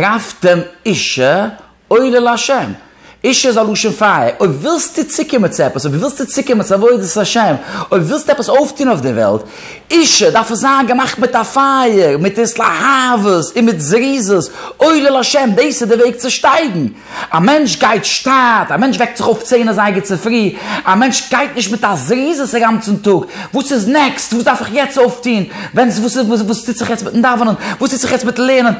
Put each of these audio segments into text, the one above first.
רפתם אישה עולה לה'. אישה איז א לשון פייער. אויב ווילסטו צוקומען צו עפעס, אויב ווילסטו צוקומען צו עבודת השם, אויב ווילסטו עפעס אויפטון אויף דער וועלט, אישה דארף עס זיין געמאכט מיט א פייער, מיט התלהבות און מיט זריזות, עולה לה', דאס איז דער וועג צו שטייגן. א מענטש גייט שטאט, א מענטש וועקט זיך אויף צען אזייגער צופרי, א מענטש גייט נישט מיט א זריזות אגאנצן טאג, וואס איז נעקסט, וואס דארף איך יעצט אויפטון, ווען וואס טוט זיך יעצט מיטן דאווענען, וואס טוט זיך יעצט מיטן לערנען,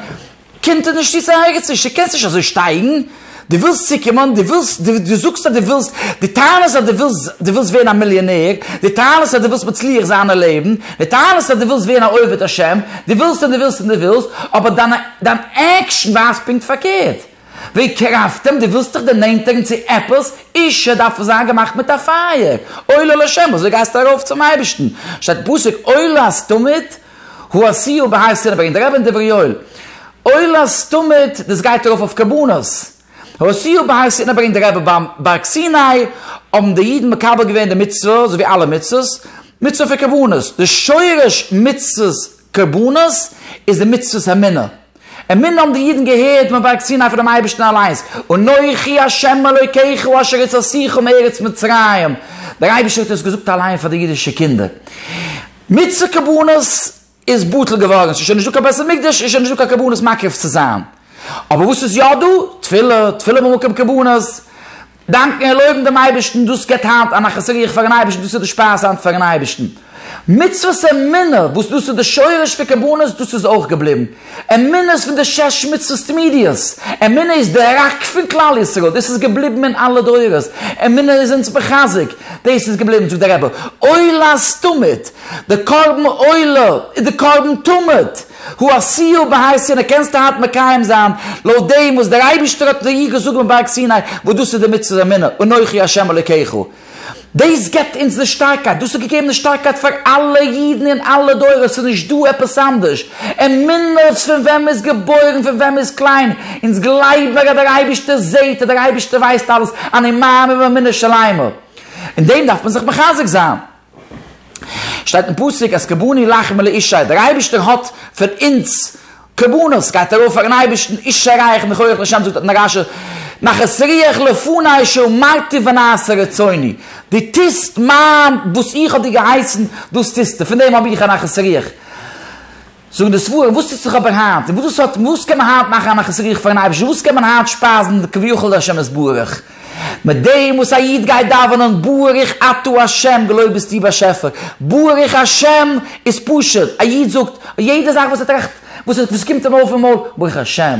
קומט ער נישט צו צו ערגעץ נישט, דו קענסט נישט אזוי שטייגן, דו ווילסט צוקומען, דו ווילסט, דו זאגסט אז דו ווילסט, דו טענה'סט אז דו ווילסט, דו ווילסט ווערן א מיליאנער, דו טענה'סט אז דו ווילסט מצליח זיין אין לעבן, דו טענה'סט אז דו ווילסט ווערן א עובד השם, דו ווילסט און דו ווילסט און דו ווילסט, אבער דיין עקשן ווייזט פונקט פארקערט. ווי קרבתם, דו ווילסט דיך דערנענטערן צו עפעס, אישה דארף זיין געמאכט מיט א פייער, עולה לשם, אזוי גייסטו ארויף צום אייבערשטן, שטייט פסוק עולה הסתומית, הוא הסיור בהר סיני, ברענגט דער רבי אין דברי יואל, עולה הסתומית, דאס גייט ארויף אויף קרבנות, הוא הסיור בהר סיני ברענגט דער רבי, ביים בארג סיני האבן די אידן מקבל געווען די מצוה, אזוי ווי אלע מצוות, מצוה פון קרבנות, די שורש מצוות קרבנות איז די מצוות המינה. אמינא האבן די אידן געהערט מען בארגט סיני פונעם אייבערשטן אליינס, אנכי השם אלוקיכם אשר הוצאתיך מארץ מצרים, דער אייבערשטער האט עס געזאגט אליין פאר די אידישע קינדער, מצוה קרבנות איז בטל געווארן, ס'איז שוין נישטא קיין בית המקדש, איז שוין נישטא קיין קרבנות מקריב צו זיין, אבער וואס איז יא דא? תפילה, תפילה במקום קרבנות, דאנקן און לויבן דעם אייבערשטן, דאס געבט היינט א נחת רוח פאר'ן אייבערשטן, דאס איז די שפייז היינט פאר'ן אייבערשטן. מצוות אמונה, וואס דאס איז די שורש פון קרבנות, דאס איז אויך געבליבן. אמונה איז פון די שש מצוות תמידיות. אמונה איז די ראק פון כלל ישראל, דאס איז געבליבן אין אלע דורות. אמונה איז אונז מחזק, דאס איז געבליבן, זאגט דער רבי, עולה'ס תמיד, די קרבן עולה איז די קרבן תמיד. הוא עשיהו בהר סיני, קענסטו היינט מקיים זיין לויט דעם וואס דער אייבערשטער האט לאיר געזאגט ביים בארג סיני, וואס דאס איז די מצוות אמונה, אנכי ה' אלוקיך. דאס גיבט אונז די שטארקייט, דאס האט געגעבן די שטארקייט פאר אלע אידן אין אלע דורות, ס'איז נישט דא עפעס אנדערש. אמונה איז פון ווען מ'איז געבוירן, פון ווען מ'איז קליין, אונז גלייבן מיר אז דער אייבערשטער זעט, אז דער אייבערשטער ווייסט אלעס, אני מאמין באמונה שלימה. אין דעם דארף מען זיך מחזק זיין. שטייט אין פסוק אז כבני לך מלא אישי, דער אייבערשטער האט פון אונז קרבנות, גייט ארויף פארן אייבערשטן, אישי רייך מכח לשם זאגט אט נרש א, נחת רוח לפני שאמרתי ונעשה רצוני, דו טוסט מיין, וואס איך האב דיר געהייסן דאס טוסטו, פון דעם האב איך א נחת רוח. זאגן די ספרים וואס טוט זיך אבער היינט, און וואס האט, וואס קען מען היינט מאכן א נחת רוח פארן אייבערשטן, וואס קען מען היינט שפייזן כביכול די השם יתברך, מיט דעם וואס א איד גייט דאווענען ברוך אתה השם געלויבט ביסטו באשעפער, ברוך השם איז פשוט, א איד זאגט יעדע זאך וואס ער טראכט, וואס קומט אים אויף אין מויל, ברוך השם.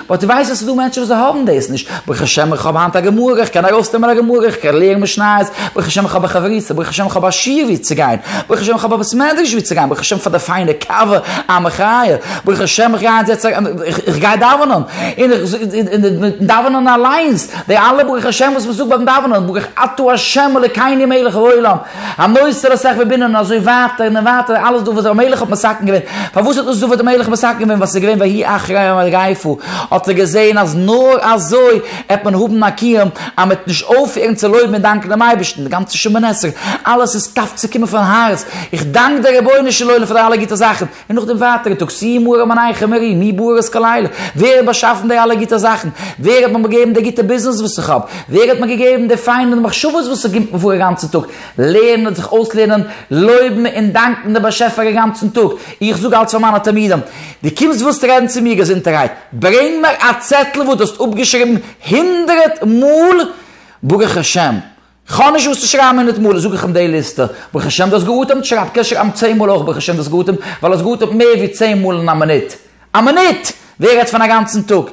באט איך ווייס אז ס'איז דא מענטשן וואס זיי האבן דאס נישט, ברוך השם איך האב היינט א גמרא, איך קען ארויסנעמען א גמרא, איך קען לערנען משניות, ברוך השם איך האב א חברותא, ברוך השם איך האב א שיעור וואו צו גיין, ברוך השם איך האב א בית מדרש וואו צו גיין, ברוך השם פאר די פיינע קאווע, א מחיה, ברוך השם איך גיי היינט זעצן, איך גיי דאווענען, און איך זאג, און מיטן דאווענען אליינס, די אלע ברוך השם וואס מ'זאגט ביים דאווענען, ברוך אתה ה' אלוקינו מלך העולם, הנוסח לסכ ו בנין און אזוי ווייטער און ווייטער אלעס דא וואס דער מלך האט מסכם געווען, פארוואס איז דאס דא וואס דער מלך האט מסכם געווען ווייל ס'איז געווען ויהי אחרי יום מגפו האט ער געזען אז נאר אזוי עט מען האבן א קיום אז מ'עט נישט אויפהערן צו לויבן און דאנקן דעם אייבערשטן די גאנצע שומען עסער אלעס איז טאף צו קומען פון הארץ איך דאנק דער רבונו של עולם פאר די אלע גוטע זאכן און נאך דעם ווייטערע טאג סי' מוהר א מנייכא מרי מ בורות כלילה, ווער האט באשאפן די אלע גוטע זאכן? ווער האט מיר באגעבן די גוטע ביזנעס וואס איך האב? ווער האט מיר געגעבן די פיינע מחשבות וואס איך גימפן פאר אגאנצן טאג? לערנען, זיך אויסלערנען, לויבן און דאנקן דעם באשעפער אגאנצן טאג. איך זאג אלץ פאר מיינע תלמידים, דו קומסט ווילסט רעדן צו מיר געזונטערהייט, ברענג מיר א צעטל וואו דו האסט אפגעשריבן הונדרעט מאל ברוך השם, כ'האב נישט וואס צו שרייבן הונדערט מאל זאג איך אים די ליסטע. ברוך השם דו האסט גע'אטעמט, שרייב קען שרייבן צען מאל אויך ברוך השם דו האסט גע'אטעמט, ווייל האסט גע'אטעמט מער ווי צען מאל אין א מינוט. א מינוט! ווער רעדט פון א גאנצן טאג.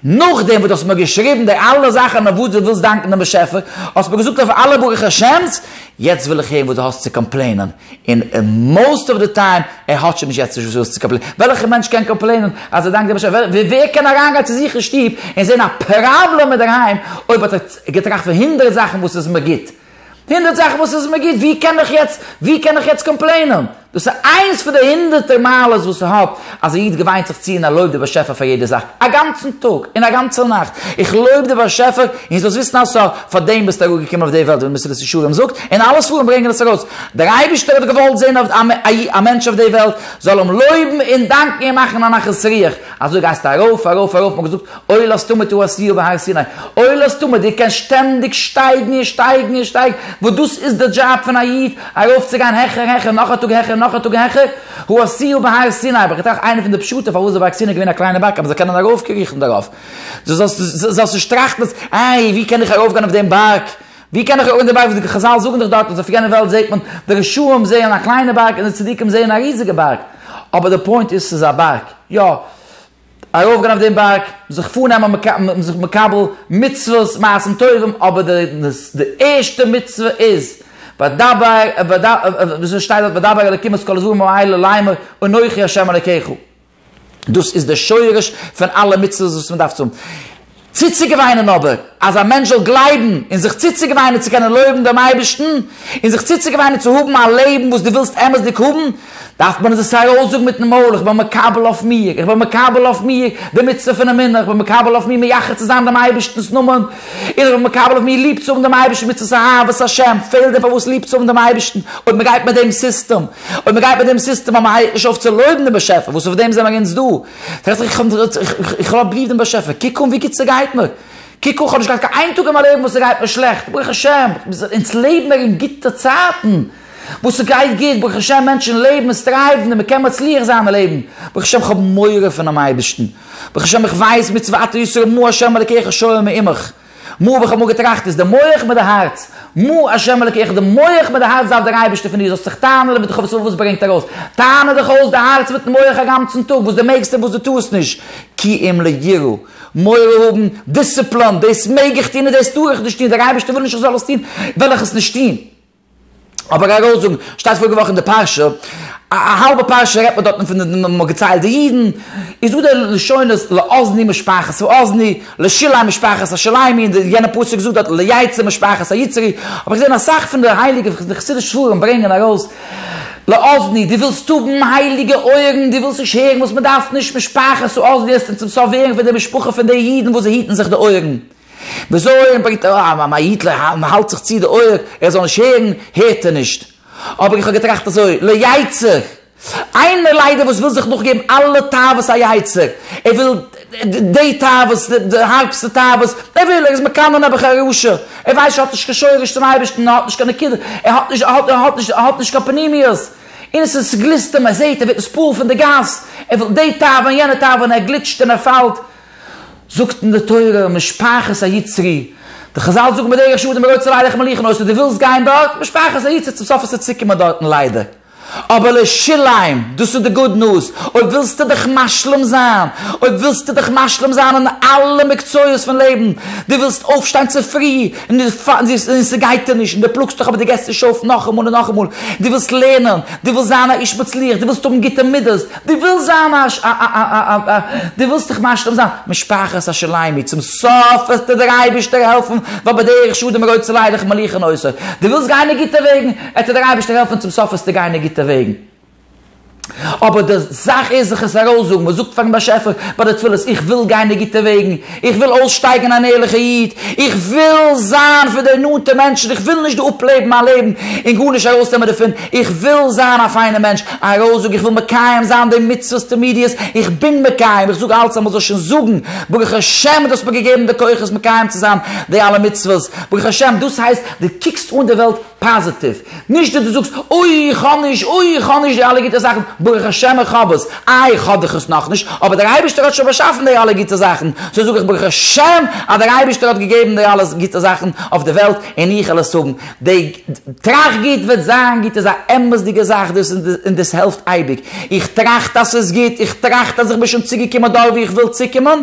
נאכדעם וואס דו האסט מיר געשריבן די אלע זאכן אויף וואס דו ווילסט דאנקן דעם באשעפער, האסט מיר געזאגט אויף אלע ברוך השם'ס, יעצט וויל איך הערן וואס דו האסט צו קאמפלעינען. און מאוסט אוו די טיים ער האט שוין נישט יעצט נישט וואס צו קאמפלעינען, וועלכע מענטש קען קאמפלעינען אז ער דאנקט דעם באשעפער, ווער קען אריינגיין צו זיך אין שטוב און זען א פראבלעם אינדערהיים אויב האט ער געטראכט פון הונדערט זאכן וואס איז מיר גוט, הונדערט זאכן וואס איז מיר גוט, ווי קען איך יעצט, ווי קען איך יעצט קאמפלעינען? דאס איז איינס פון די הונדערטער מעלות וואס ער האט אז א איד געוויינט זיך צו און ער לויבט די באשעפער פאר יעדע זאך, א גאנצן טאג און א גאנצע נאכט, איך לויב די באשעפער און זאלסט וויסן אז סא פאר דעם ביסטו אראפגעקומען אויף די וועלט ווי די מסילת ישרים זאגט, און אלע ספרים ברענגען עס ארויס, דער אייבישטער האט געוואלט זען אז א מענטש אויף די וועלט זאל אים לויבן און דאנקן און מאכן א נחת רוח, אזוי גייסטו ארויף ארויף ארויף, מ'האט געזאגט אוי לאסתמא תוהו עשיו בהר סיני, אוי לאסתמא דו קענסט שטענדיג שטייגן און שטייגן און שטייגן, וואס דאס איז די דזשאב פון א איד, ארויפצוגיין העכער העכער נאך א טאג העכער נאך א טאג העכער, הוא עשיהו בהר סיני, אבער כ'טראכט איינע פון די פשטים פארוואס די באקסין איז געווען א קליינע בארג אז מ'זאל קענען ארויפקריכן דערויף. דו זאלסט נישט טראכטן אז איי ווי קען איך ארויפגיין אויף דעם בארג, ווי קען איך ארויפגיין אויף דעם בארג, חזל זאגן דאך דארט אז אויף יענע וועלט זעט מען, די רשעים זעען א קליינע בארג און די צדיקים זעען א ריזיגע בארג, אבער די פוינט איז ס'איז א בארג, יא. ארויפגיין אויף דעם בארג, זיך פארנעמען און זיך מקבל מצוות מעשים טובים, אבער די ערשטע מצוה איז, ודבר, וויאזוי עס שטייט דארט, ודבר אלוקים את כל הדברים האלה לאמור, אנכי ה' אלוקיך. דאס איז די שורש פון אלע מצוות וואס מען דארף צו האבן. צוצוגעוויינען אבער, אז א מענטש זאל גלייבן און זיך צוצוגעוויינען צו קענען לויבן דעם אייבערשטן, און זיך צוצוגעוויינען צו האבן א לעבן וואס דו ווילסט אמת'דיג האבן, דארף מען עס ארויסזאגן מיט'ן מויל, איך בין מקבל אויף מיר, איך בין מקבל אויף מיר די מצוה פון אמונה, איך בין מקבל אויף מיר מייחד צו זיין דעם אייבערשטנ'ס נאמען, און איך בין מקבל אויף מיר ליב צו האבן דעם אייבערשטן מצוות אהבת השם, פעלט דען פארוואס ליב צו האבן דעם אייבערשטן, אויב מען גייט מיט דעם סיסטעם? אויב מען גייט מיט דעם סיסטעם אז מען הייבט נישט אויף צו לויבן דעם באשעפער, וואס אויף דעם זעמער אונז דא, זאגט ער, איך האב ליב דעם באשעפער, קוק אן ווי גוט ס'גייט מיר, קוק אן, כ'האב נישט געהאט קיין איין טאג אין מיין לעבן וואס ס'גייט מיר שלעכט, ברוך השם, אונז לעבן מער אין גוטע צייטן, וואס ס'גייט גוט, ברוך השם, מענטשן לעבן און סטרייוון און מ'קען מצליח זיין אין לעבן, ברוך השם, כ'האב מורא פונעם אייבערשטן, ברוך השם, איך ווייס מצוותיו ישראל מה ה' אלקיך שואל מעמך. מו האב איך אמאל געטראכט איז די מח מיט די הארץ מו השם אלקיך די מח מיט די הארץ דארף דער אייבערשטער פון דיר זאלסט זיך טענה'ן און בדחוות לבב וואס ברענגט ארויס טענה דיך אויס די הארץ מיטן מח א גאנצן טאג וואס די מעגסט און וואס די טוסט נישט כי אם ליראה מורא האבן דיסציפלאן דאס מעג איך טון און דאס טאר איך נישט טון דער אייבערשטער וויל נישט איך זאל עס טון וועל איך עס נישט טון. אבער ארויסזאגן, שטייט פאריגע וואך אין די פרשה, א האלבע פרשה רעדט מען דארטן פון די נומערן, מ'האט געציילט די אידן, איז דא די לשונות לאזני משפחת האזני, לשילאי משפחת השילאימי, און די יענע פסוק זאגט דארט ליצרי משפחת היצרי, האב איך געזען אסאך פון די הייליגע חסידישע ספרים ברענגען ארויס לאזני, דו ווילסט האבן הייליגע אויערן, דו ווילסט נישט הערן וואס מ'דארף נישט משפחת האזני, העסטו צום סוף הערן פון די משפחה פון די אידן וואס זיי היטן זיך די אויערן. דער זוהן ברענגט א א מעיד ל ה און האלט זיך צו די אויער ער זאל נישט הערן, הערט ער נישט. אבער איך האב געטראכט אזוי, לא יצר! איינער ליידער וואס וויל זיך נאכגעבן אלע תאוות היצר, ער וויל די תאוות, די הארבסטע תאוות, ער וויל, ער איז מקנא נעבעך א רשע, ער ווייסט שוין ער האט נישט קיין שורש צום אייבערשטן, ער האט נישט קיין נקודה, ער האט נישט, ער האט, ער האט נישט, ער האט נישט קיין פנימיות, און עס איז, ס'גליסט אים, ער זעהט, ער ווערט נספּעל פון די גאס, ער וויל די תאווה און יענע תאווה און ער גליטשט און ער פאלט, זאגט אין די תורה משפחת היצרי, די חזל זאגן בדרך שדים ולא יצא ליילך מליחן אויסער דו ווילסט גיין דארט, משפחת היצרי צום סוף וועסטו צוקומען דארטן ליידער, אבער לשלום, דאס איז די גוד ניוז, אויב ווילסטו דיך משלים זיין, אויב ווילסטו דיך משלים זיין אין אלע מקצועות פון לעבן, דו ווילסט אויפשטיין צופרי, און ס'גייט דיר נישט, און דו פלאגסט דיך אבער דו געבסט נישט אויף נאכאמאל און נאכאמאל, דו ווילסט לערנען, דו ווילסט זיין א איש מצליח, דו ווילסט האבן גוטע מידות, דו ווילסט זיין א ש א א א א א דו ווילסט דיך משלים זיין משפחת השליימי צום סוף וועט דיר דער אייבערשטער העלפן ווייל בדרך שדים רודפ'סטו ליידעך מליך און עושר דו ווילסט גיין אין גוטע וועגן וועט דיר דער אייבערשטער העלפן צום סוף וועסטו גיין אין גוטע וועגן אבער די זאך איז זיך עס ארויסזאגן מען זאגט פארן באשעפער ביי די תפילות איך וויל גיין אין גוטע וועגן איך וויל אויסשטייגן אן ערליכער איד, איך וויל זיין פון די נאנטע מענטשן, איך וויל נישט דא אפלעבן מיין לעבן און גארנישט ארויסנעמען דערפון, איך וויל זיין א פיינער מענטש, א ראוזאג, איך וויל מקיים זיין די מצוות תמידיות, איך בין מקיים, איך זאג אלץ אז מ'זאל שוין זאגן, ברוך השם דו האסט מיר געגעבן די כוחות מקיים צו זיין די אלע מצוות, ברוך השם, דאס הייסט דו קוקסט אן די וועלט פאזיטיוו, נישט ווי דו זאגסט, אוי איך האב נישט, אוי איך האב נישט די אלע גוטע זאכן, ברוך השם איך האב עס, איי איך האב דאך עס נאכנישט, אבער דער אייבערשטער האט שוין באשאפן די אלע גוטע זאכן, סאו זאג איך ברוך השם אז דער אייבערשטער האט געגעבן די אלע גוטע זאכן אויף די וועלט און איך וועל עס האבן, די טראכט גוט וועט זיין גוט איז א אמת'דיגע זאך דאס און דאס העלפט אייביג, איך טראכט אז ס'איז גוט, איך טראכט אז איך בין שוין צוגעקומען דארט וואו איך וויל צוקומען,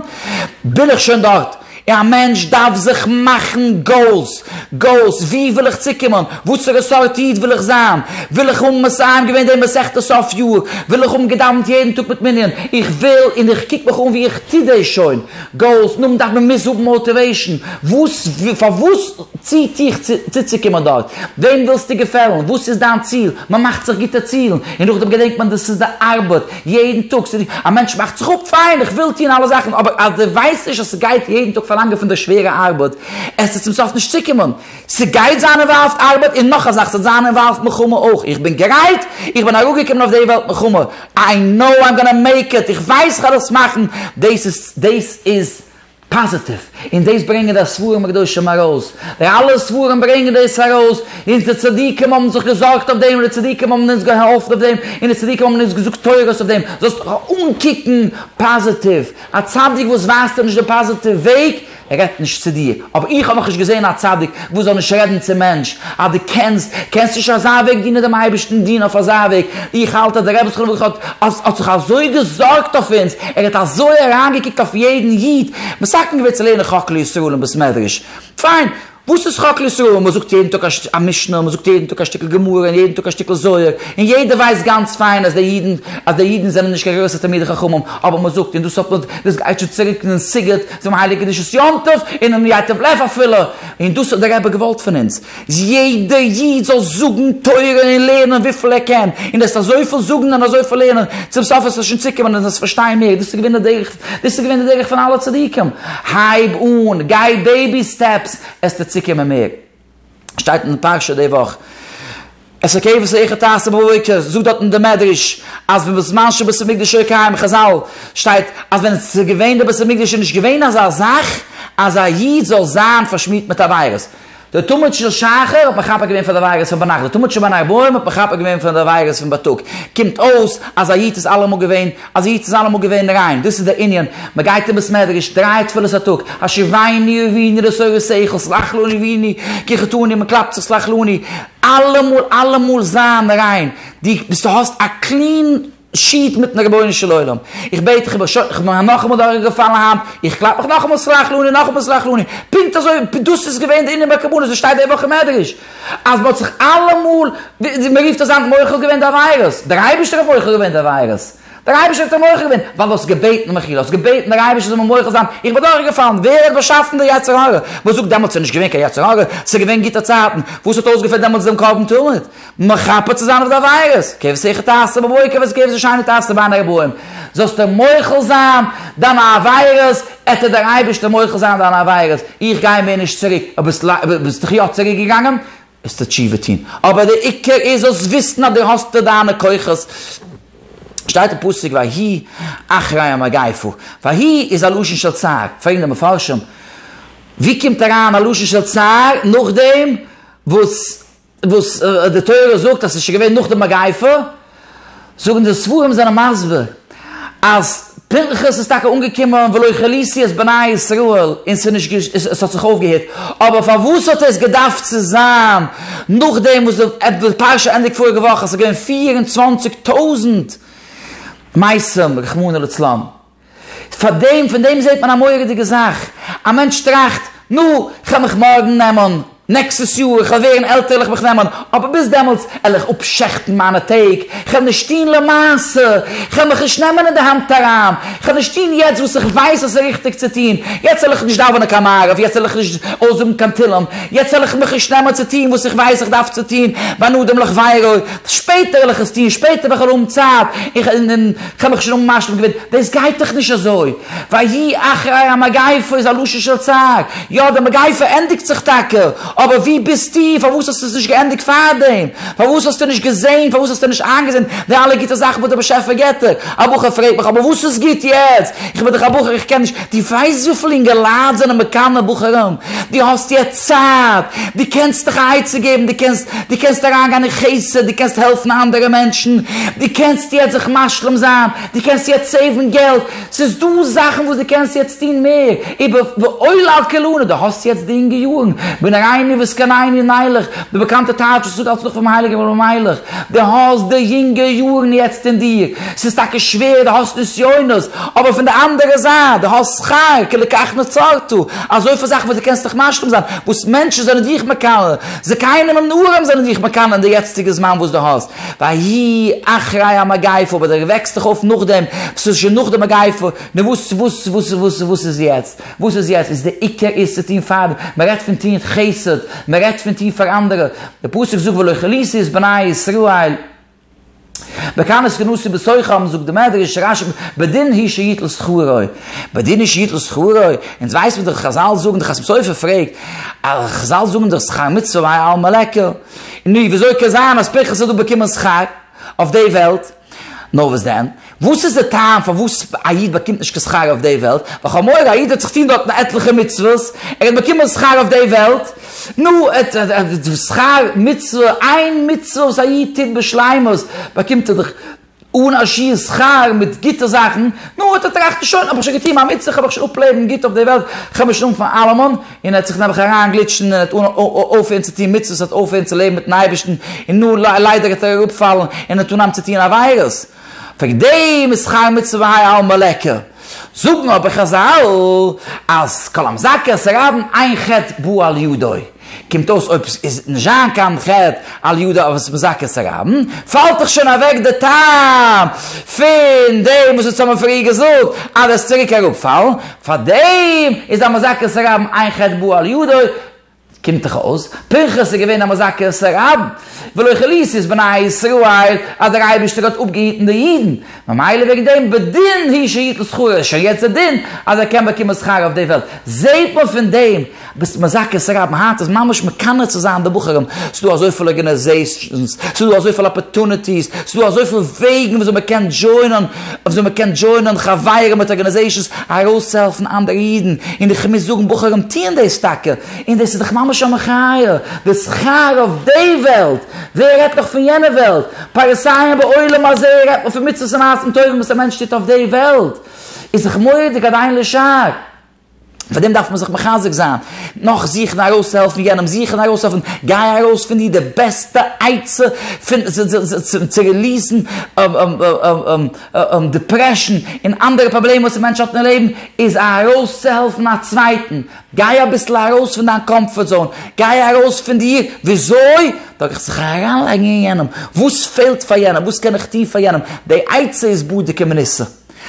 בין איך שוין דארט. א מענטש דארף זיך מאכן גאולס, גאולס, וואו וויל איך צוקומען, וואסערע סארט איד וויל איך זיין, וויל איך האבן מסיים געווען די מסכת סוף יאר, וויל איך האבן געדאווענט יעדן טאג מיט מנין, איך וויל און איך קוק מיך אן ווי איך טו דאס שוין, גאולס, נאכדעם דארף מען מוז האבן מאוטיוועישן, וואס, פארוואס ציט דיך צוצוקומען דארט, וועם ווילסטו געפעלן, וואס איז דיין ציל, מען מאכט זיך גוטע צילן, און נאכדעם געדענקט מען דאס איז די ארבעט, יעדן טאג, ס'איז ווי א מענטש מאכט זיך אפ, פיין, איך וויל טון אלע זאכן, אבער אז דו ווייסט נישט אז ס'גייט יעדן טאג פארלאנגען פון דיר שווערע ארבעט, עס וועט צום סוף נישט צוקומען. ס'גייט זיין אינוואלווד ארבעט, און נאך א זאך, ס'וועט זיין אינוואלווד מלחמה אויך. איך בין גרייט, איך בין אראפגעקומען אויף די וועלט מלחמה, איי נאו איים גאנא מעיק איט, איך ווייס איך וועל עס מאכן, דאס איז, דאס איז. פאזיטיוו, און דאס ברענגען די ספרים הקדושים ארויס, די אלע ספרים ברענגען דאס ארויס, אונז די צדיקים האבן זיך געזארגט אויף דעם, און די צדיקים האבן אונז געהאלפן אויף דעם, און די צדיקים האבן אונז געזאגט תורות אויף דעם, זאלסט דיך אנקוקן פאזיטיוו, א צדיק וואס ווייזט דיר נישט די פאזיטיוו וועג, רעדט נישט צו דיר, אבער איך האב נאכנישט געזען א צדיק. וואס זאל נישט רעדן צום מענטש, אז דו קענסט, קענסטו נישט אזא וועג דינען דעם אייבערשטן, דין אויף אזא וועג, איך האלט אז דער רבי זכרונו לברכה האט האט זיך אזוי געזארגט אויף אונז, ער האט אזוי אריינגעקוקט אויף יעדן איד, מסכן געווען צו לערנען חק לישראל און בית מדרש, פיין, וואס איז חק לישראל, מען זאגט יעדן טאג א משנה, מען זאגט יעדן טאג א שטיקל גמרא און יעדן טאג א שטיקל זוהר, און יעדער ווייסט גאנץ פיין אז די אידן אז די אידן זענען נישט קיין גרויסע תלמידי חכמים, אבער מען זאגט און דאס האט מען דאס גייט שוין צוריק אין סיגוט, צום הייליג קדושת יום טוב און און ייטב לב אפילו, און דאס האט דער רבי געוואלט פון אונז, יעדע איד זאל זאגן תורה און לערנען וויפיל ער קען, און דאס אזויפיל זאגן און אזויפיל לערנען, צום סוף עס וועט שוין צוקומען און עס פארשטיין מער, דאס איז געווען די דרך, דאס איז געווען די דרך פון אלע צדיקים, הייב אן, גיי בעיבי סטעפס, עס טוט צוקומען מער. שטייט אין די פרשה די וואך, עשה כבש איכה תעשה בבוקר, זאגט דארט אין די מדרש אז פון בזמן שבית המקדש היה קיים, חזל, שטייט אז ווען עס איז געווען די בית המקדש איז נישט געווען אזא זאך אז א איד זאל זיין פארשמירט מיט עבירות, די תמיד של שחר האט מכפר געווען פאר די עבירות פון ביינאכט, די תמיד של בין הערביים האט מכפר געווען פאר די עבירות פון בייטאג, קומט אויס אז א איד איז אלעמאל געווען אז איצט זיין אמאל געווען ריין, דאס איז דער ענין, מען גייט אין בית מדרש דריי תפילות א טאג, השיבני אביני לסורת שכל, סלח לנו אביני כי חטאנו, מען קלאפט זיך סלח לנו, אלעמאל אלעמאל זיין ריין, דו ביסט דו האסט א קלין שיעט מיטן רבונו של עולם, איך בעט דיך איך בין שוין, איך בין א נאכאמאל דורך געפאלן היינט, איך קלאפ מיך נאכאמאל סלח לנו נאכאמאל סלח לנו, פונקט אזוי דאס איז געווען דער ענין ביי קרבנות, דאס שטייט די וואך אין מדרש. אז מ'האט זיך אלעמאל, ווי מ'רופט עס היינט, מוחל געווען די עבירות. דער אייבערשטער האט מוחל געווען די עבירות. דער אייבערשטער האט דיר מוחל געווען, ווייל דו האסט געבעטן מחילה, האסט געבעטן דער אייבערשטער זאל מיר מוחל זיין, איך בין דורכגעפאלן. ווער האט באשאפן די יצר הרע? מ'זאגט דעמאלטס ס'איז נישט געווען קיין יצר הרע, ס'איז געווען גוטע צייטן. וואס האט אויסגעפירט דעמאלטס דעם קרבן תמיד? מכפר צו זיין אויף די עבירות. כבשעך תעשה בבוקר ואת כבש השני תעשה בין ארבעים. זאלסטו מוחל זיין דיינע עבירות, עט וועט דער אייבערשטער מוחל זיין דיינע עבירות, איך גיי מער נישט צוריק, אויב ביסט דיך יא צוריק געגאנגען, וועסטו תשובה טון, אבער דער עיקר איז זאלסט וויסן אז דו האסט די דיינע כוחות, שטייט אין פסוק ויהי אחרי המגיפה, ויהי איז א לשון של צער, פרעגן די מפרשים, ווי קומט אריין א לשון של צער נאכדעם וואס וואס די תורה זאגט אז עס איז שוין געווען נאך די מגיפה, זאגן די ספרים זענען מסביר אז פנחס איז טאקע אנגעקומען ולא כליסי את בני ישראל און עס האט זיך אויפגעהערט, אבער פארוואס האט עס געדארפט צו זיין נאכדעם וואס די פרשה ענדיגט פאריגע וואך אז עס איז געווען פֿיר און צוואַנציק טויזנט מתים רחמנא לצלן? פאר דעם, פון דעם זעט מען א מורא'דיגע זאך, א מענטש טראכט, נו, כ'על מיך מארגן נעמען, נעקסטעס יאר, כ'על ווערן עלטער על'ך מיך נעמען, אבער ביז דעמאלטס על איך אפשעכטן מיינע טעג, כ'על נישט טוהן למעשה, כ'על מיך נישט נעמען אין די האנט אריין, כ'על נישט טוהן יעצט וואס איך ווייס אז ס'איז ריכטיג צו טוהן, יעצט על איך נישט דאווענען קיין מעריב, יעצט על איך נישט אויסזאגן קיין תהלים, יעצט על איך מיך נישט נעמען צו טוהן וואס איך ווייס איך דארף צו טוהן, בין אדם לחבירו, שפעטער על איך עס טוהן, שפעטער ווען כ'על האבן צייט, און. כ'האב מיך שוין אמאל משלים געווען, דאס גייט דאך נישט אזוי, ויהי אחרי המגיפה איז א לשון של צער, יא די מגיפה ענדיגט זיך טאקע, אבער ווי ביסטו, פארוואס האסטו עס נישט געענדיגט פארדעם, פארוואס האסטו נישט געזען, פארוואס האסטו נישט איינגעזען די אלע גוטע זאכן וואס דער באשעפער געבט דיר, א בחור פרעגט מיך, אבער וואס איז גוט יעצט, איך בין דאך א בחור איך קען נישט. דו ווייסט וויפיל אינגעלייט זענען מקנא בחורים? דו האסט יעצט צייט, דו קענסט דיך א עצה געבן, דו קענסט, דו קענסט אריינגיין אין חסד, דו קענסט העלפן אנדערע מענטשן, דו קענסט יעצט זיך משלים זיין, דו קענסט יעצט סעיוון געלט, ס'איז דא זאכן וואס דו קענסט יעצט טון מער, איבער ועולה על כולנה, דו האסט יעצט די אינגע יארן, בנערייני וזקניני נלך, די באקאנטע טייטש וואס איך זאג אלץ נאך פונעם הייליגן רבי מיילעך, דו האסט די אינגע יארן יעצט אין דיר, ס'איז טאקע שווער, דו האסט נסיונות, אבער פון די אנדערע זייט, דו האסט שכר כי לכך נוצרתו, אזויפיל זאכן וואס דו קענסט דיך משלים זיין, וואס מענטשן זענען דיך מקנא, זקנים און נערים זענען דיך מקנא אין די יעצטיגע זמן וואס דו האסט, ויהי אחרי המגיפה, אבער דו וועקסט דיך אויף נאכדעם, וואס איז שוין נאך די מגיפה, נו וואס וואס וואס וואס וואס איז יעצט? וואס איז יעצט? איז די עיקר איז צו טון פאר, מען רעדט פון טון חסד, מען רעדט פון טון פאר אנדערע, די פסוק זאגט ולא כליסי את בני ישראל. בקנס כנוסי בסוכה אבן זאגט די מדרש רש ב בדין הי' שיתל שכרו, בדין הי' שיתל שכרו, אונז ווייס מיר דאך חזל זאגן די חתם סופר פרעגט א חזל זאגן דאך שכר מצוה מאי עלמא לעקר, נו וויאזוי קען זיין אז פנחס האט דא באקומען שכר אויף די וועלט, נאר וואס דען וואס איז די טעם פארוואס א איד באקומט נישט קיין שכר אויף די וועלט? וכאמור, א איד האט זיך טון דארטן עטליכע מצוות, ער האט באקומען שכר אויף די וועלט, נו, שכר מצוה, איין מצוה וואס א איד טוט בשלימות, באקומט ער דאך אן א שיעור שכר מיט גוטע זאכן, נו, האט ער טראכט, שוין, האב איך שוין געטון מיין מצוה, כ'האב מיך שוין אפלעבן גוט אויף די וועלט, כ'האב מיך שוין אנגעפאנגען אלעמען, און ער האט זיך נעבעך אריינגליטשן, און ער האט אויפגעהערט צו טון מצוות, אויפגעהערט צו לעבן מיט'ן אייבערשטן, און נו, ליידער האט ער אראפגעפאלן, און ער האט אנגעהויבן צו טון עבירות. וועגן דעם איז חי מצוה והאי עלמא לעקר. זאגן אבער חזל אז כל המזכה עשר עוון אין חטא בא על ידו, קומט אויס אויב עס איז נישט זיין קיין חטא על ידו אויב עס איז מזכה עשר עוון, פאלט דאך שוין אוועק די טעם פון דעם וואס אונז האבן פריער געזאגט אז עס צוריק אראפפאלן, פאר דעם איז א מזכה עשר עוון אין חטא בא על ידו, קומט דאך אויס, פנחס איז געווען א מזכה-עשה רב, ולא כליסי את בני ישראל, אז דער אייבערשטער האט אפגעהיטן די אידן, ממילא וועגן דעם בדין הי' שיתן שכרו, איז שוין יעצט דער דין אז ער קען באקומען שכר אויף די וועלט. זעט מען פון דעם, ביסט מזכה-עשה רב היינט איז ממש מקנא צו זיין די בחורים, ס'איז דא אזויפיל ארגענעזעישאנס, ס'איז דא אזויפיל אפערטוניטיס, ס'איז דא אזויפיל וועגן וויאזוי מ'קען דזשוינען, וויאזוי מען קען דזשוינען חברה מיט ארגאניזעישאנס ארויסצוהעלפן אנדערע אידן, און איך מוז זאגן בחורים טוען דאס טאקע, און דאס איז דאך ממש א מחיה, די שכר אויף די וועלט, ווער רעדט נאך פון יענע וועלט, פרסיים בעולם הזה רעדט מען פון מצוות ומעשים טובים וואס א מענטש טוט אויף די וועלט, איז זיך מורא'דיג אריין לשער. פאר דעם דארף מען זיך מחזק זיין, נאך זוכן ארויסצוהעלפן יענעם, זוכן ארויסהעלפן, גיי ארויס פון דיר די בעסטע עצה צו ריליעסן דעפרעשן און אנדערע פראבלעמען וואס א מענטש האט אין לעבן, איז ארויסצוהעלפן א צווייטן, גיי אביסל ארויס פון דיין קאמפארט זאון, גיי ארויס פון דיר, וויאזוי? דורך זיך אריינלייגן אין יענעם, וואס פעלט פאר יענעם, וואס קען איך טון פאר יענעם, די עצה איז בדוק ומנוסה.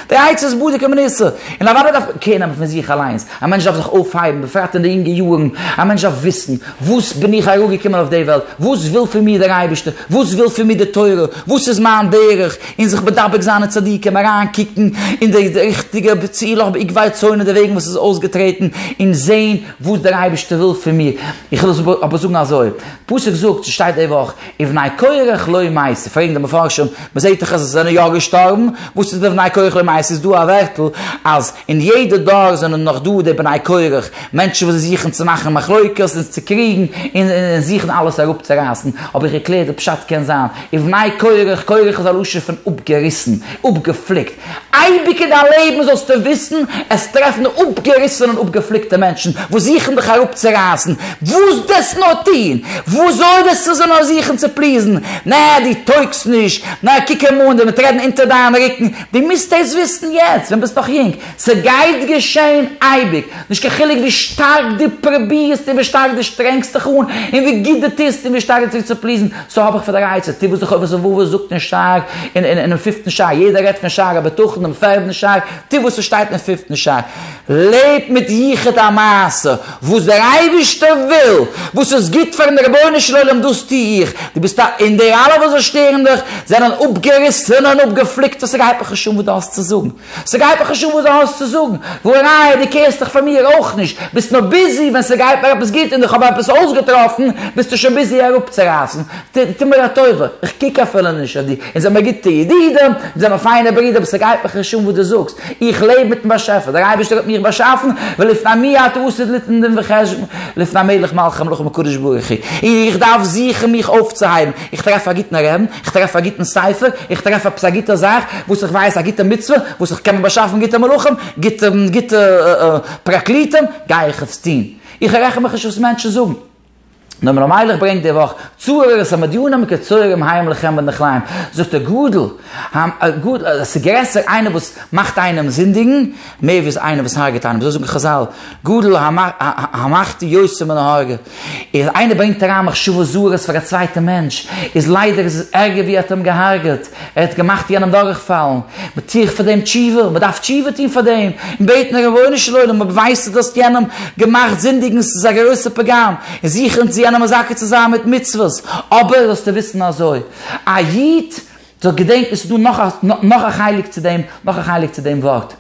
די עצה איז בדי כמנסה, און אוודאי דארף מען קעיר נעמען פון זיך אליינס, א מענטש דארף זיך אויפהייבן, בפרט אין די אינגע יארן, א מענטש דארף וויסן, וואס בין איך אראפגעקומען אויף די וועלט, וואס וויל פון מיר דער אייבערשטער, וואס וויל פון מיר די תורה, וואס איז מיין דרך, און זיך מדבק זיין אין צדיקים, אריינקוקן אין די ריכטיגע צילך בעקבי צאנן, די וועגן וואס איז אויסגעטרעטן, און זען וואס דער אייבערשטער וויל פון מיר, איך וויל אבער זאגן אזוי, פסוק זאגט, ס'שטייט די וואך, ובני קורח לא ימאסו, פרעגן די מפרשים, מ'זעט דאך אז זיי זענען יא געשטארבן, וואס איז די ובני קורח לא ימאסו? איז דא א ווערטל אז אין יעדע דור זענען נאך דא די בני קורח, מענטשן וואס זוכן צו מאכן מחלוקת און צו קריגן און זוכן אלעס אראפצורייסן, האב איך געקלערט די פשט קען זיין ובני קורח, קורח איז א לשון פון אפגעריסן, אפגעפליקט, אייביג אין דיין לעבן זאלסטו וויסן, עס טרעפן אפגעריסענע און אפגעפליקטע מענטשן וואס זוכן דיך אראפצורייסן, וואס דאס נאר טון, וואס זאל דאס צו זיין נאר זוכן צו פליזן, נע דו טויגסט נישט, נע קוק אים אן, דער וועט רעדן אונטער דיין רוקן, דו מוזט דאס וויסן יעצט ווען ביסט נאך יונג, ס'גייט געשען אייביג, נישט קיין חילוק ווי שטארק דו פרובירסט און ווי שטארק דו שטרענגסט דיך אן און ווי גוט דו טוסט און ווי שטארק דו זוכסט צו פליזן, סאו האב איך פאר דער עצה, טו וואס די חובת הלבבות זאגט אין שער, אינעם פיפטן שער, יעדער רעדט פון שער הבטחון, דעם פערדן שער, טו וואס ס'שטייט אינעם פיפטן שער. לעב מיט יחוד המעשה, וואס דער אייבערשטער וויל, וואס איז גוט פאר'ן רבונו של עולם דאס טו איך, דו ביסט א, און די אלע וואס זיי שטערן דיך, זענען אפגעריסענע און אפגעפליקטע, ס'גייט מיך נישט אן וואס דו האסט צו זאגן. ס'גייט מיר חשוב'ן וואס דו האסט צו זאגן, וואו א ראיה דו קעירסט דיך פאר מיר אויך נישט, ביסט נאר ביזי ווען ס'גייט מיר עפעס גוט און איך האב עפעס אויסגעטראפן ביסטו שוין ביזי אראפצורייסן, טו מיר א טובה, איך קוק אפילו נישט אויף דיר, אונז זעמער גוטע ידידים, אונז זעמער פיינע ברידער אבער ס'גייט מיר חשוב'ן וואס דו זאגסט, איך לעב מיטן באשעפער, דער אייבערשטער האט מיך באשאפן, ולפני מי אתה עושה דין וחשבון, לפני מלך מלכי המלכים הקדוש ברוך הוא, און איך דארף זוכן מיך אויפצוהייבן, איך טרעף א גוטן רעבן, איך טרעף א גוטן ספר, איך טרעף עפעס א גוטע זאך וואס איך ווייס, א גוטע מצוה וואס איך קען מיר באשאפן גוטע מלאכים, גוטע גוטע פרקליטים, גיי איך עס טון, איך רעכן מיך נישט וואס מענטשן זאגן. נאר מען האט מיילעך ברענגט די וואך צורר עס מדיונם כצוררים הים לכם ולנחלים, זאגט ער גאדל, עס איז גרעסער איינער וואס מאכט איינעם זינדיגן, מער ווי איינער וואס הרג'ט איינעם, אזוי זאגן חזל, גאדל המחטיא יותר מן ההורגה. איז איינער ברענגט אריין מחשבות זרות פאר א צווייטע מענטש, איז ליידער איז עס ערגער ווי ער האט אים געהארגעט, ער האט געמאכט יענעם דורכפאלן, מען טו איך פאר דעם תשובה, מען דארף תשובה טון פאר דעם, און בעטן רבונו של עולם אויב ווייסטו דו האסט יענעם געמאכט זינדיגן עס איז א גרויסע פגם, און זוכן צו יענעם מזכה צו זיין מיט מצוות, אבער זאלסטו וויסן אזוי, א איד זאל געדענקן עס איז דא נאך א חלק צו דעם, נאך א חלק צו דעם ווארט.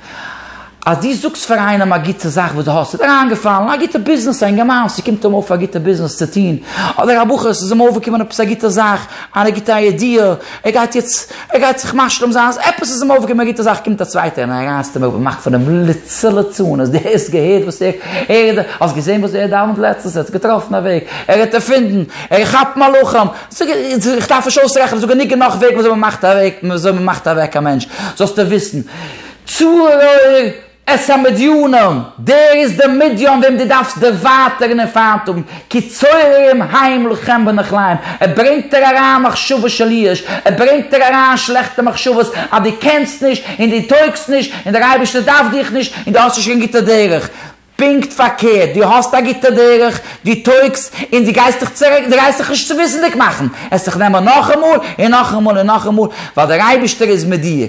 אז דו זאגסט פאר איינעם א גוטע זאך וואס דו האסט, איז דיר אריינגעפאלן א גוטע ביזנעס, א אינגערמאן ס'קומט אים אויף א גוטע ביזנעס צו טון, אדער א בחור ס'איז אים אויפגעקומען עפעס א גוטע זאך, א גוטע איידיע, ער גייט יעצט, ער גייט זיך משלים זיין, אז עפעס איז אים אויפגעקומען א גוטע זאך, קומט א צווייטער און רייסט אים אויף און מאכט פון אים ליצה ליצנות, דו האסט געהערט וואס ער, ער, האסט געזען וואס ער דאווענט לעצטנס, ער האט זיך געטראפן א וועג, ער האט ערפינדן, ער כאפט מלאכים. זאג ער, איך דארף נישט אויסרעכענען, זאג ער, ניגע נאך וועגן וויאזוי מ'מאכט אוועק, וויאזוי מ'מאכט אוועק א מענטש, זאלסטו וויסן, צרור את המדיונים, דער איז דער מדיון וועם דו דארפסט דערווייטערן און פיינט האבן, כי צוררים העם לכם בנכליים, ער ברענגט דיר אריין מחשבות של ייאוש, ער ברענגט דיר אריין שלעכטע מחשבות אז דו קענסט נישט און דו טויגסט נישט און דער אייבערשטער דארף דיך נישט און דו האסט נישט קיין גוטע דרך. פונקט פארקערט, דו האסט א גוטע דרך, דו טויגסט, און דו גייסט דיך צוריק, דו גייסט דיך נישט צוביסנדיג מאכן, עס זיך נעמען נאכאמאל, און נאכאמאל, און נאכאמאל, ווייל דער אייבערשטער איז מיט דיר.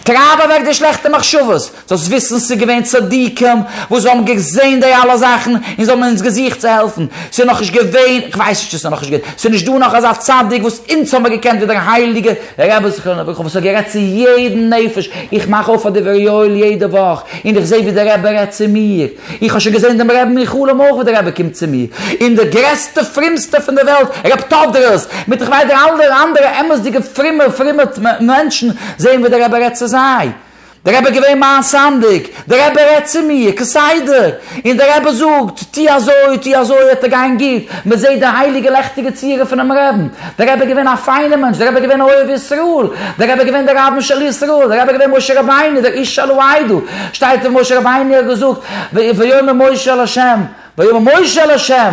טרייב אוועק די שלעכטע מחשבות, זאלסט וויסן ס'איז געווען צדיקים וואס האבן געזען די אלע זאכן, און זיי האבן אונז געזוכט צו העלפן, ס'איז נאכנישט געווען, איך ווייס נישט צו ס'איז נאכנישט געווען, ס'איז נישט דא נאך אזא צדיק וואס אונז האבן מיר געקענט ווידערהייליגע, דער רבי זכרונו לברכה וואס האט גערעדט צו יעדן נפש, איך מאך אויף פאר די ווערי אויל יעדע וואך, און איך זע ווי דער רבי רעדט צו מיר, איך האב שוין געזען דעם רבין אין חלום אויך ווי דער רבי קומט צו מיר, און דער גרעסטע פרימסטע פון די וועלט רב טאדרעס, מיט איך ווייס די אלע אנדערע אמת'דיגע פרימע פרימע מענטשן, זעען ווי דער רבי רעדט צו זיי. דער רבי איז געווען מיין סנדק, דער רבי רעדט צו מיר כסדר, און דער רבי זאגט, טו אזוי, טו אזוי, עט ער גיין גוט, מען זעט די הייליגע לעכטיגע צורה פונעם רעבן, דער רבי איז געווען א פיינער מענטש, דער רבי איז געווען א אוהב ישראל, דער רבי איז געווען דער רבן של ישראל, דער רבי איז געווען משה רבינו, דער איש שלא היידו, שטייט ווי משה רבינו האט געזאגט, ויאמר משה אל השם, ויאמר משה אל ה',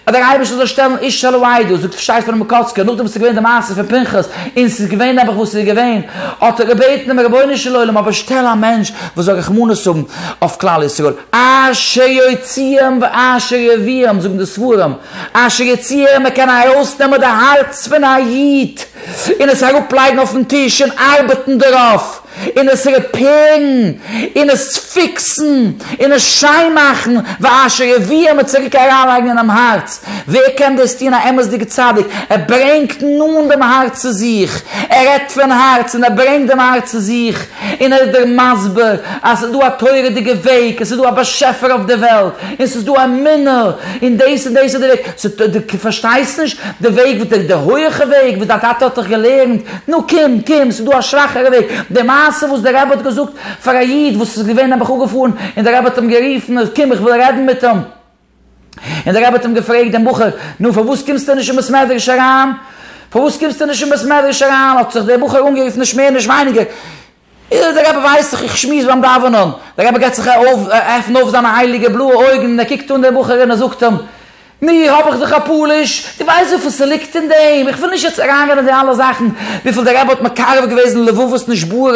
אז דער אייבערשטער זאל שטעלן איש אל העדה, זאגט פשעי'ס פונעם מקוצקער, נאכדעם וואס ס'איז געווען די מעשה פון פנחס, און ס'איז געווען נעבעך וואס ס'איז געווען, האט ער געבעטן דעם רבונו של עולם, אבער שטעל א מענטש וואס זאל רחמנות האבן אויף כלל ישראל, אשר יוציאם ואשר יביאם, זאגן די ספרים, אשר יוציאם, ער קען ארויסנעמען די הארץ פון א איד, און עס אראפלייגן אויפן טיש און ארבעטן דערויף. און עס רעפעירן, און עס פיקסן, און עס שיין מאכן, ואשר יביאם און צוריק אריינלייגן אינעם הארץ, ווער קען דאס טון? א אמת'דיגע צדיק, ער ברענגט נאנט דעם הארץ צו זיך, ער רעדט פון הארץ און ער ברענגט דעם הארץ צו זיך, און ער איז דיר מסביר אז עס איז דא א תורה'דיגע וועג, עס איז דא א באשעפער אויף די וועלט, און עס איז דא אמונה, און דאס און דאס איז די וועג, סאו דו פארשטייסט נישט די וועג, די הויעכע וועג וואס דיין טאטע האט דיך געלערנט, נו קום, קום, ס'איז דא א שוואכערע וועג. די מעשה וואס דער רבי האט געזאגט פאר א איד וואס איז געווען נעבעך אפגעפארן, און דער רבי האט אים גערופן, קום איך וויל רעדן מיט אים. און דער רבי האט אים געפרעגט דעם בחור, נו פארוואס קומסטו נישט אין בית מדרש אריין? פארוואס קומסטו נישט אין בית מדרש אריין? האט זיך דער בחור אנגערופן נישט מער נישט ווייניגער, אילו דער רבי ווייסט זיך איך שמועס ביים דאווענען, דער רבי גייט זיך עפענען אויף זיינע הייליגע בלויע אויגן און ער קוקט אן דעם בחור און ער זאגט אים, מיר האב איך זיך א פאליש, דו ווייסט וויפיל ס'ליגט אין דעם, איך וויל נישט יעצט אריינגיין אין די אלע זאכן, וויפיל דער רבי האט מקרב געוועזן לבבות נשברות,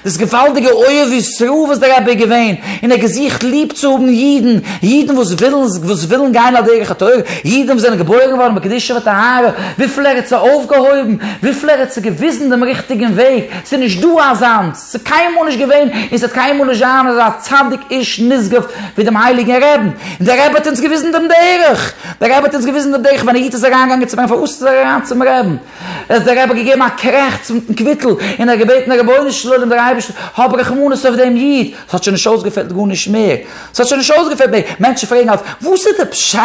דאס געוואלדיגע אוהב ישראל וואס דער רבי איז געווען, און ער האט געזוכט ליב צו האבן אידן, אידן וואס ווילן וואס ווילן גיין על דרך התורה, אידן וואס זענען געבוירן געווארן בקדושה וטהרה, וויפיל ער האט זיי אויפגעהויבן, וויפיל ער האט זיי געוויזן דעם ריכטיגן וועג, ס'איז נישט דא אזאנס, ס'איז קיינמאל נישט געווען און ס'וועט קיינמאל נישט זיין אזא צדיק איש נשגב ווי דעם הייליגן רעבן, און דער רבי האט אונז געוויזן דעם דרך, דער רבי האט אונז געוויזן דעם דרך ווען א איד איז אריינגעגאנגען צו מרן פארוואס איז ער אריין צום רעבן, האט דער רבי געגעבן א קרעכץ מיטן קוויטל און ער האט געבעטן רבונו של עולם דער אייבערשטער האב רחמנות אויף דעם איד, עס האט שוין נישט אויסגעפעלט גארנישט מער. עס האט שוין נישט אויסגעפעלט מער. מענטשן פרעגן אלץ, וואס איז די פשט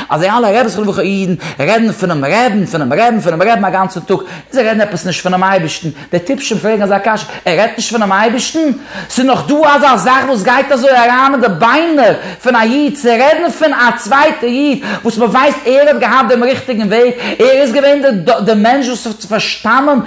אז די אלע רעביס וכו' אידן רעדן פונעם רעבן, פונעם רעבן, פונעם רעבן א גאנצן טאג, און זיי רעדן עפעס נישט פונעם אייבערשטן? די טיפשים פרעגן אזא קשיא, ער רעדט נישט פונעם אייבערשטן? ס'איז נאך דא אזא זאך וואס גייט אזוי אריין אין די ביינער פון א איד צו רעדן פון א צווייטע איד וואס מ'ווייסט ער האט געהאט דעם ריכטיגן וועג, ער איז געווען די מענטש וואס פארשטאנען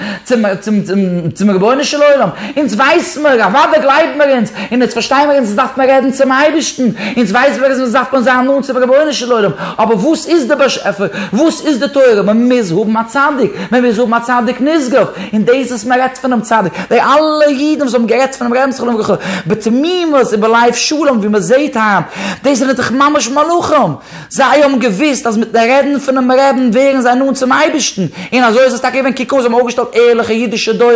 צום רבונו של עולם, אונז ווייס מיר, אוודאי גלייבן מיר אונז, און אונז פארשטיי מיר, אונז דארף מען רעדן צום אייבערשטן, אונז ווייס מיר אז אונז דארף מען זיין נאנט צום רבונו של עולם, אבער וואס איז דער באשעפער? וואס איז די תורה? מען מוז האבן א צדיק, מען מוז האבן א צדיק נשגב, און דאס וואס מען רעדט פונעם צדיק, די אלע אידן וואס האבן גערעדט פונעם רעבען זכרון לברכה בתמימות ובלב שלם ווי מען זעט היינט, דאס זענען דאך ממש מלאכים. זיי האבן געוואוסט אז מיטן רעדן פונעם רעבין ווערן זיי נאנט צום אייבערשטן, און אזוי איז עס טאקע געווען, קוק אן, זיי האבן אויפגעשטעלט ערליכע אידישע דורות,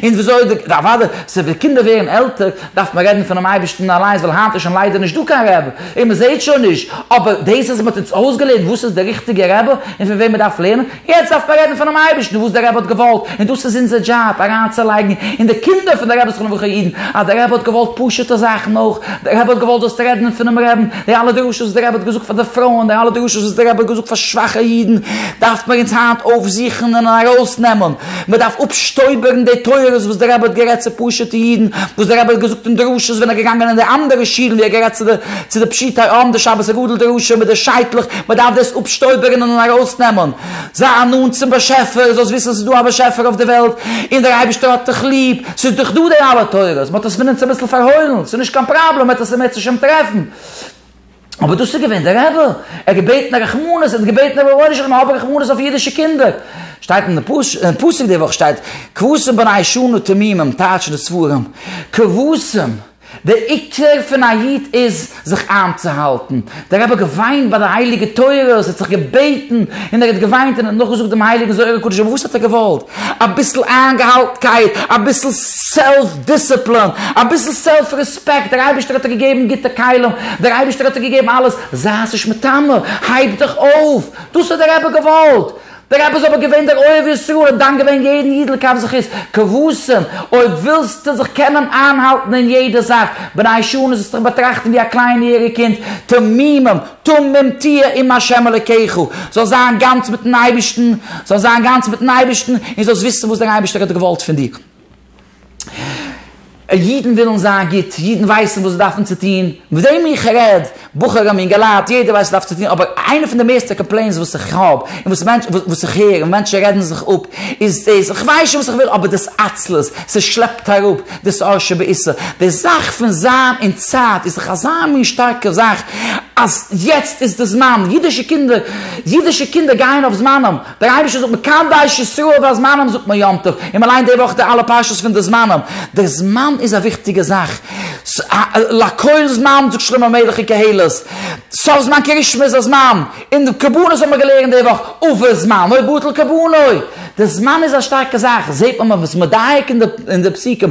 און וויאזוי די, אוודאי, ס'איז ווען קינדער ווערן עלטער, דארף מען רעדן פונעם אייבערשטן אליינס, ווייל היינט איז שוין ליידער נישט דא קיין רעבע, און מען זעט שוין נישט, אבער דאס אז מען האט אונז אויסגעלערנט וואס איז דער ריכטיגער רעבע, און פון וועם מען דארף לערנען, יעצט דארף מען רעדן פונעם אייבערשטן וואס דער רבי האט געוואלט, און דאס איז אונזער דזשאב, אריינצולייגן אין די קינדער פון די רבי'ס חנוכה אידן אז דער רבי האט געוואלט פשוט'ע זאכן אויך, דער רבי האט געוואלט זאלסט רעדן פונעם רעבן, די אלע דרשות וואס דער רבי האט געזאגט פאר די פרויען, די אלע דרשות וואס דער רבי האט געזאגט פאר שוואכע אידן, דארף מען אונז היינט אויפזוכן און ארויסנעמען, מען דארף אפשטויבערן די תורות וואס דער רבי האט גערעדט צו פשוט'ע אידן, וואס דער רבי האט געזאגט אין דרשות ווען ער געגאנגען אין די אנדערע שילן ווי ער גערעדט צו די. צו די פשוטי עם, די שבת הגדול די ראשון מיט די שייטלעך, מען דארף דאס אפשטויבערענען און ארויסנעמען. זיי נאנט צום באשעפער, זאלסט וויסן ס'איז דא א באשעפער אויף די וועלט, און דער אייבערשטער האט דיך ליב, ס'איז דאך דא די אלע תורות, מען האט עס פון עס אביסל פארהוילן, ס'איז נישט קיין פראבלעם, מען וועט עס אין בעזהשי ת טרעפן. אבער דאס איז געווען דער רבי, ער האט געבעטן רחמנות, ער האט געבעטן רבונו של עולם האב רחמנות אויף אידישע קינדער. שטייט אין די פסוק די וואך שטייט, כבשים בני שנה תמימים טייטשן די ספרים, כבשים. דער עיקר פון א איד איז זיך איינצוהאלטן. דער רבי האט געוויינט ביי די הייליגע תורות, ער האט זיך געבעטן און ער האט געוויינט און ער האט נאכגעזאגט דעם הייליגן זוהר הקדוש, אבער וואס האט ער געוואלט? אביסל איינגעהאלטנקייט, אביסל סעלף דיסציפלין, אביסל סעלף רעספעקט, דער אייבערשטער האט דיר געגעבן גוטע כלים, דער אייבערשטער האט דיר געגעבן אלעס, זיי'ס נישט מיטמא, הייב דיך אויף, דאס האט דער רבי געוואלט. דער רבי איז אבער געווען דער אוהב ישראל, ער האט דן געווען יעדן איד לכף זכות, כבשים, אויב ווילסטו זיך קענען איינהאלטן אין יעדע זאך, בני שנה זאלסטוך באטראכטן ווי א קליין יעריג קינד, תמימים, תמים תהיה עם ה' אלוקיך, זאלסט זיין גאנץ מיטן אייבערשטן, זאלסט זיין גאנץ מיטן אייבערשטן, און זאלסט וויסן וואס דער אייבערשטער האט געוואלט פון דיר. אידן ווילן זיין גוט, אידן ווייסן וואס זיי דארפן צו טון, מיט וועם איך רעד, בחורים אינגעלייט, יעדער ווייסט וואס ער דארף צו טון, אבער איינע פון די מערסטע קאמפלעינס וואס איך האב, און וואס מענטש, וואס איך הער, און מענטשן רעדן זיך אפ, איז דאס, איך ווייס שוין וואס איך וויל, אבער דאס עצלות, ס'שלעפט אראפ דאס אור שבעיסה, די זאך פון זיין אין צייט איז דאך אזא מין שטארקע זאך, אז יעצט איז די זמן, אידישע קינדער, אידישע קינדער גייען אויף זמנם. דער אייבערשטער זאגט מקדש ישראל והזמנים זאגט מען יום טוב, און מען ליינט די וואך די אלע פרשות פון די זמנים, דער זמן איז א וויכטיגע זאך, לכל זמן זאגט שלמה המלך אין קהלת, סוף זמן כרישמע איז א זמן, און די קרבנות האבן מיר געלערנט די וואך, ובזמנו בטל קרבנו, די זמן איז א שטארקע זאך, זעט מען מען וואס מדייק אין די פסוקים,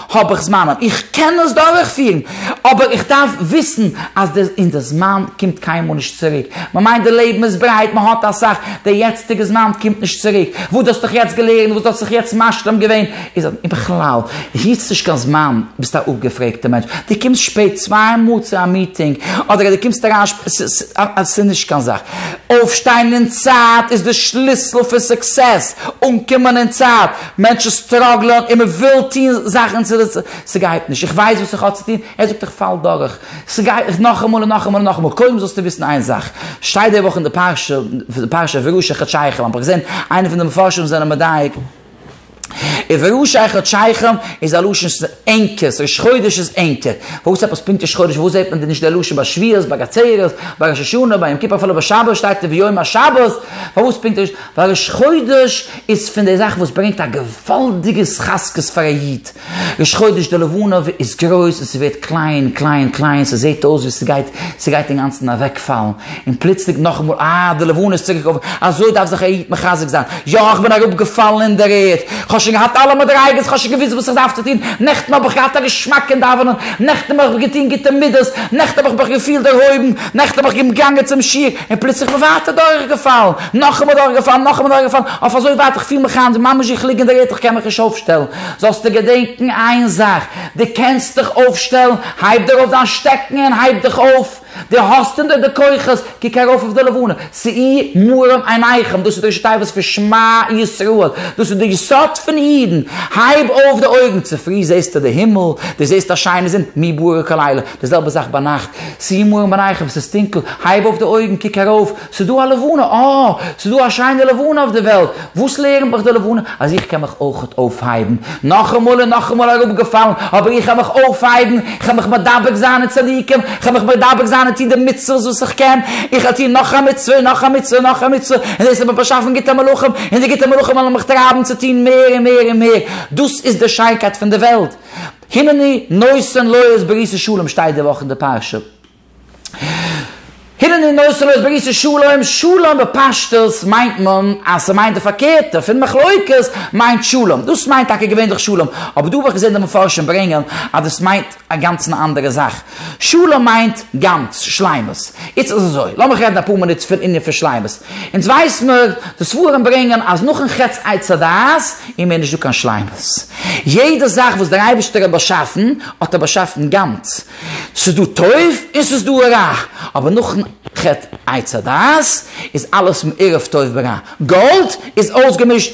האב איך זמן, איך קען דאס דורכפירן, אבער איך דארף וויסן אז די און די זמן קומט קיינמאל נישט צוריק. מען מיינט די לעבן איז ברייט, מען האט אסאך, די יעצטיגע זמן קומט נישט צוריק. וואס דו האסט דיך יעצט געלערנט, וואס דו האסט זיך יעצט משלים געווען, איז און בכלל, היטסט נישט קיין זמן, ביסט א אפגעפרעגטע מענטש. דו קומסט שפעט צוויי מאל צו א מיטינג, אדער דו קומסט אריין שפעט, ס ס א ס'איז נישט קיין זאך. אויפשטיין אין צייט איז די שליסל פון סוקסעס, אנקומען אין צייט, מענטשן סטראגלען און מען וויל טון זאכן צו די ס'גייט נישט, איך ווייס וואס איך האב צו טון, ער זאגט איך פאל דורך, ס'גייט נאכאמאל און נאכאמאל און נאכאמאל, קודם זאלסטו וויסן איין זאך, שטייט די וואך אין די פרשה, פרשת וראשי חדשיכם, האב איך געזען איינע פון די מפרשים זענען מדייק, וראשי חדשיכם איז א לשון ענקערס, ראש חודש איז ענקער, וואס עפעס פונקט ראש חודש, וואו זעט מען דען נישט די לשון ביי שביעות, ביי געצערעס, ביי ראש השנה, ביי יום כיפור אפילו ביי שבת שטייט וביום השבת, פארוואס פונקט ראש חודש? ווייל ראש חודש איז פון די זאכן וואס ברענגט א געוואלדיגע התחזקות פאר א איד. ראש חודש די לבנה איז גרויס און ס'ווערט קליין קליין קליין ס'זעהט אויס ווי ס'גייט ס'גייט אינגאנצן אוועקפאלן און פלוצלינג נאכאמאל אה די לבנה איז צוריק אויף אזוי דארף זיך א איד מחזק זיין יא כ'בין אראפגעפאלן אין דער ערד כ'האב שוין געהאט אלע מדריגות כ'האב שוין געוויסט וואס איך דארף צו טון נעכטן האב איך געהאט א געשמאק אין דאווענען נעכטן האב איך געטון גוטע מידות נעכטן האב איך מיך געפילט דערהויבן נעכטן האב איך געגאנגען צום שיעור און פלוצלינג כ'בין ווייטער דורכגעפאלן, נאכאמאל דורכגעפאלן, נאכאמאל דורכגעפאלן, אויף אזוי ווייט איך פיל מיך היינט ממש ווי איך ליג אין די ערד, איך קען מיך נישט אויפשטעלן. זאלסטו געדענקן איין זאך, דו קענסט דיך אויפשטעלן, הייב דיר אויף דיין שטעקן און הייב דיך אויף, דו האסט אין דיר די כוחות, קוק ארויף אויף די לבנה, ס'אי מרום עיניכם, דאס איז די השתייבות פון שמע ישראל, דאס איז די יסוד פון אידן, הייב אויף די אויגן, צופרי זעסטו די הימל, דו זעסט א שיינע זון, מי ברא כל אלה. די זעלבע זאך ביינאכט, שים מרום עיניך ווען ס'איז טונקל, הייב אויף די אויגן, קוק ארויף, ס'איז דא א לבנה, אה! ס'איז דא א שיינע לבנה אויף די וועלט! וואס לערנט מיך די לבנה? אז איך קען מיך אויכעט אויפהייבן. נאכאמאל און נאכאמאל אראפגעפאלן, אבער איך קען מיך אויפהייבן, איך קען מיך מדבק זיין אין צדיקים, איך קען מיך מדבק זיין און טון די מצוות וואס איך קען, איך וועל טון נאך א מצוה און נאך א מצוה און נאך א מצוה, און דאס האט מיר באשאפן גוטע מלאכים, און די גוטע מלאכים וועלן מיך טרייבן צו טון מער און מער און מער, דאס איז די שיינקייט פון די וועלט. הנני נושא לויערס ברית'ס שלום שטייט די וואך אין די פרשה. הנני נושא לויערס ברית'ס שלום, שלום בפשטות מיינט מען אז ס'מיינט די פארקערטע פון מחלוקת מיינט שלום, דאס מיינט טאקע געווענליך שלום, אבער דא האב איך געזען די מפרשים ברענגען אז דאס מיינט א גאנצן אנדערע זאך, שלום מיינט גאנץ, שלימות. איצט איז אזוי, לאמיך רעדן אפאר מינוט פון ענין פון שלימות. אונז ווייסן נאר, די ספרים ברענגען אז נאכן חטא עץ הדעת איז מער נישטא קיין שלימות. יעדע זאך וואס דער אייבערשטער האט באשאפן, האט ער באשאפן גאנץ. ס'איז דא טוב און ס'איז דא רע. אבער נאכן חטא עץ הדעת איז אלעס מעורב טוב ורע. גאלד איז אויסגעמישט.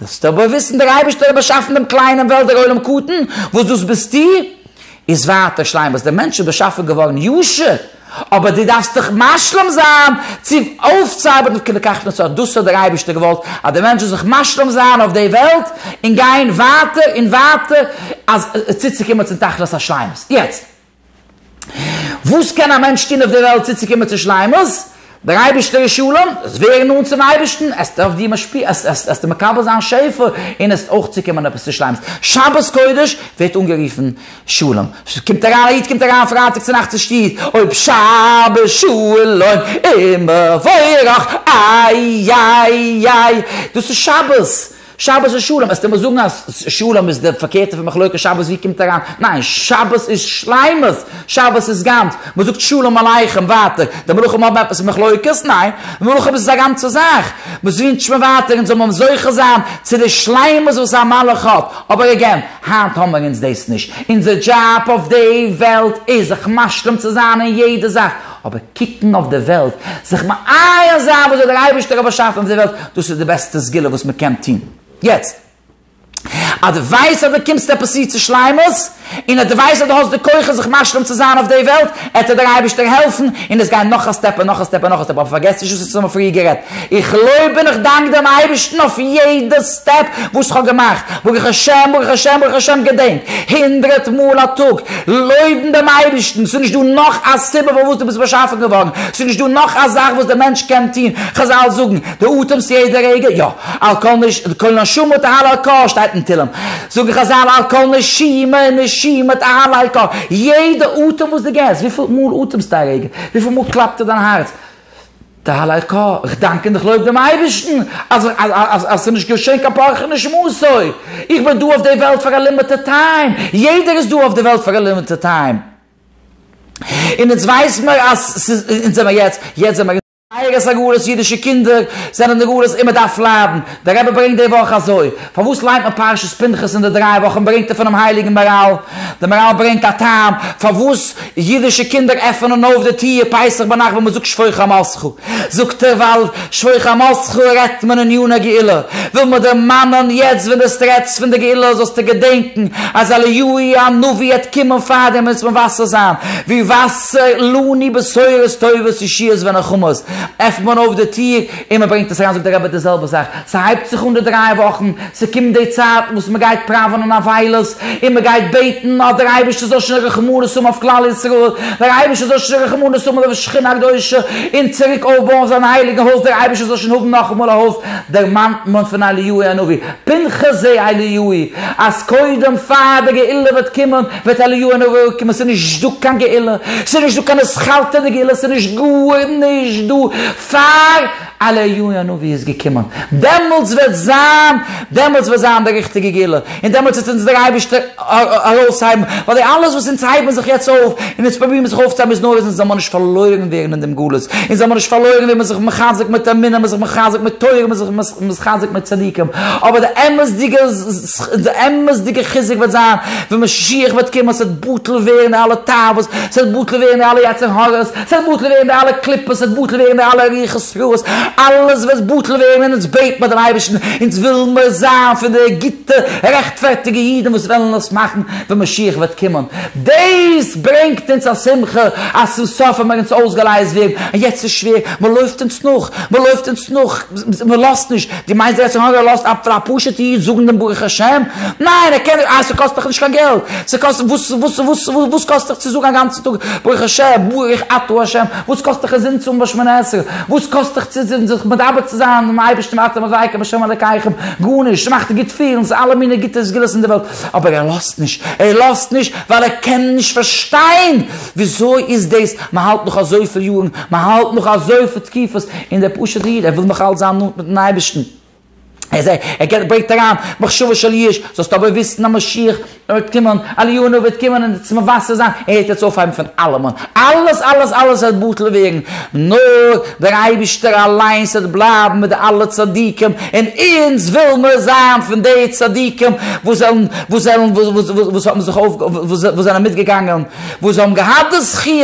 דארפסט אבער וויסן דער אייבערשטער האט באשאפן דעם קליינעם וועלט דער עולם קטן וואס דאס ביסטו איז ווייטער שלימות, דער מענטש איז באשאפן געווארן ישר אבער דו דארפסט דיך משלים זיין צו אויפצוארבעטן אויף כי לקחת נצור, דאס האט דער אייבערשטער געוואלט אז דער מענטש זאל זיך משלים זיין אויף די וועלט און גיין ווייטער און ווייטער אז צוצוקומען צום תכלית השלימות. יעצט. וואס קען א מענטש טון אויף דער וועלט צוצוקומען צו שלימות? דער אייבערשטער איז שלום, זאלסט ווערן נאנט צום אייבערשטן, עסט אויף דיר משפיע, עסטו מקבל זיין שפע, און עסט אויך צוקומען עפעס צו שלימות. שבת קודש ווערט אנגערופן שלום. קומט אריין א איד קומט אריין פרייטאג צו נאכטס אין שטוב, אויב שבת שלום ומבורך, איי איי איי, דאס איז שבת. שבת איז שלום, עסטו מיר זאגן אז שלום איז די פארקערטע פון מחלוקת, שבת ווי קומט אריין, ניין, שבת איז שלימות, שבת איז גאנץ, מען זאגט שלום עליכם ווייטער, די מלאכים האבן עפעס מיט מחלוקת? ניין, די מלאכים איז א גאנצע זאך, מען ווינטשט מיר ווייטער אונז זאל מען זוכה זיין צו די שלימות וואס א מלאך האט, אבער עגעין, היינט האמער אונז דאס נישט, אונזער דזשאב אויף די וועלט איז זיך משלים צו זיין אין יעדע זאך, אבער. קוקן אויף די וועלט, זיך מעיין זיין וואס האט דער אייבערשטער האט באשאפן אויף די וועלט, דאס איז די בעסטע סגולה וואס מען קען טון. יעצט, אז דו ווייסט אז דו קומסט עפעס צו צו שלימות, און אז דו ווייסט אז דו האסט די כוחות זיך משלים צו זיין אויף די וועלט, עט דיר דער אייבערשטער העלפן, און עס גיין נאך א סטעפ און נאך א סטעפ און נאך א סטעפ, אבער פארגעס נישט וואס אונז האבן פריער גערעדט, איך לויב און איך דאנק דעם אייבערשטן אויף יעדע סטעפ וואס כ'האב געמאכט, ברוך השם ברוך השם ברוך השם, געדענק הונדרעט מאל א טאג לויבן דעם אייבערשטן, ס'איז נישט דא נאך א סיבה פארוואס דו ביסט באשאפן געווארן, ס'איז נישט דא נאך א זאך וואס דער מענטש קען טון, חזל זאגן דו אטעמסט יעדע רגע, יא, על כל נש כל נשמה תהל על כא שטייט אין תהלים, זאגן חזל על כל נשימה נשימה תהל על כא, יעדע אטעם וואס דו געבסט, וויפיל מאל אטעמסטו א רגע, וויפיל מאל קלאפט דיין הארץ, די הל' ק, איך דאנק און איך לויב דעם אייבערשטן אז ס'איז נישט געשען קיין פארכעניש מסור, איך בין דא אויף די וועלט פאר א לימיטעד טיים, יעדער איז דא אויף די וועלט פאר א לימיטעד טיים, און אונז ווייסן מיר אז ס'איז, אונז זעמער יעצט, יעצט זעמער. זייערע סגולות אידישע קינדער זענען נגלות און מ'דארף ליידן, דער רבי ברענגט די וואך אזוי. פארוואס ליינט מען פרשת פנחס אין די דריי וואכן ברענגט ער פונעם הייליגן מהרל? די מהרל ברענגט א טעם פארוואס אידישע קינדער עפענען אויף די טיר פסח ביינאכט ווען מען זאגט שפוך על עמך, זאגט ער ווייל שפוך על עמך רעדט מען אין יון הגאולה, וויל מען דערמאנען יעצט ווען דאס רעדסט פון די גאולה זאלסטו געדענקן אז אליהו הנביא העט קומען פארדעם ווען עס וועט וואסער זיין ווי וואסער, לנו בשורות טובות ישועות ונחמות, עפנט מען אויף די טיר. און מען ברענגט עס אריין זאגט דער רבי די זעלבע זאך, ס'הייבט זיך אן די דריי וואכן, ס'קומט די צייט וואס מען גייט פראווענען אבילות, און מען גייט בעטן אז דער אייבערשטער זאל שוין רחמנות האבן אויף כלל ישראל, דער אייבערשטער זאל שוין רחמנות האבן אויף שכינה הקדושה, און צוריק אויפבויען זיין הייליגן הויז, דער אייבערשטער זאל שוין האבן נאכאמאל א הויז, דערמאנט מען פון אליהו הנביא, פנחס זי ע אליהו'י, אז קודם פאר די גאולה וועט קומען, וועט אליהו הנביא אראפקומען, ס'איז נישט דא קיין גאולה, ס'איז נישט דא קיין אסכלתא דגאולה, ס'איז נישט גארנישט דא, פאר אליהו הנביא איז געקומען, דעמאלטס וועט זיין, דעמאלטס וועט זיין די ריכטיגע גאולה, און דעמאלטס וועט אונז דער אייבערשטער ארויסהייבן, ווייל די אלעס וואס אונז הייבן זיך יעצט אויף, און אונז פרובירן זיך אויפצוהייבן איז נאר אז אונז זאל מיר נישט פארלוירן ווערן אין דעם גלות, אונז זאל מיר נישט פארלוירן ווערן, מען איז זיך מחזק מיט אמונה, מען איז זיך מחזק מיט תורה, מען איז זיך מחזק מיט צדיקים, אבער די אמת'דיגע. די אמת'דיגע חיזוק וועט זיין ווען משיח וועט קומען, ס'וועט בטל ווערן די אלע תאוות, ס'וועט בטל ווערן די אלע יצר הרע'ס, ס'וועט בטל ווערן די אלע קליפות, ס'וועט בטל ווערן די אלע רוחות רעות, אלעס וועט בטל ווערן און אונז בעט מיר דעם אייבערשטן, אונז וויל מיר זיין פון די גוטע רעכטפערטיגע אידן וואס וועלן עס מאכן ווען משיח וועט קומען. דאס ברענגט אונז א שמחה אז צום סוף האבן מיר אונז אויסגעלייזט ווערן, און יעצט איז שווער, מ'לויפט אונז נאך, מ'לויפט אונז נאך, מ'לאזט נישט, דו מיינסט דער יצר הרע לאזט אפ פאר א פשוטע איד זאגן דעם ברוך השם? ניין ער קען נישט איי ס'קאסט דאך נישט קיין געלט, ס'קאסט וואס וואס וואס וואס קאסט דיך צו זאגן א גאנצן טאג ברוך השם ברוך אתה השם, וואס קאסט דיך עס אנצוהאבן ביי שמונה עשרה, וואס קאסט דיך צו זיך מדבק צו זיין מיטן אייבערשטן ואתם אזעקה בהשם אלקיכם, גארנישט, ס'מאכט גוט פילן, ס'איז אלע מיני גוטע סגולות אין די וועלט, אבער ער לאזט נישט, ער לאזט נישט ווייל ער קען נישט פארשטיין. וויאזוי איז דאס? מען האלט נאך אזויפיל יארן, מען האלט נאך אזויפיל תקופות, און דער פשוט'ער איד, ער וויל נאך אלץ זיין נאנט מיט'ן אייבערשטן, ער איז ער געבט ברענגט אריין מחשבה של ייאוש, זאלסט אבער וויסן אז משיח וועט קומען, אלינו וועט קומען און עס מבשר זיין, ער וועט אונז אויפהייבן פון אלעמען, אלעס אלעס אלעס וועט בטל ווערן, נאר דער אייבערשטער אליינס וועט בלייבן מיט די אלע צדיקים, און אונז וויל מיר זיין פון די צדיקים וואס זענען וואס זענען וואס האבן זיך אויף וואס זענען מיטגעגאנגען. וואס זיי האבן געהאט די זכי',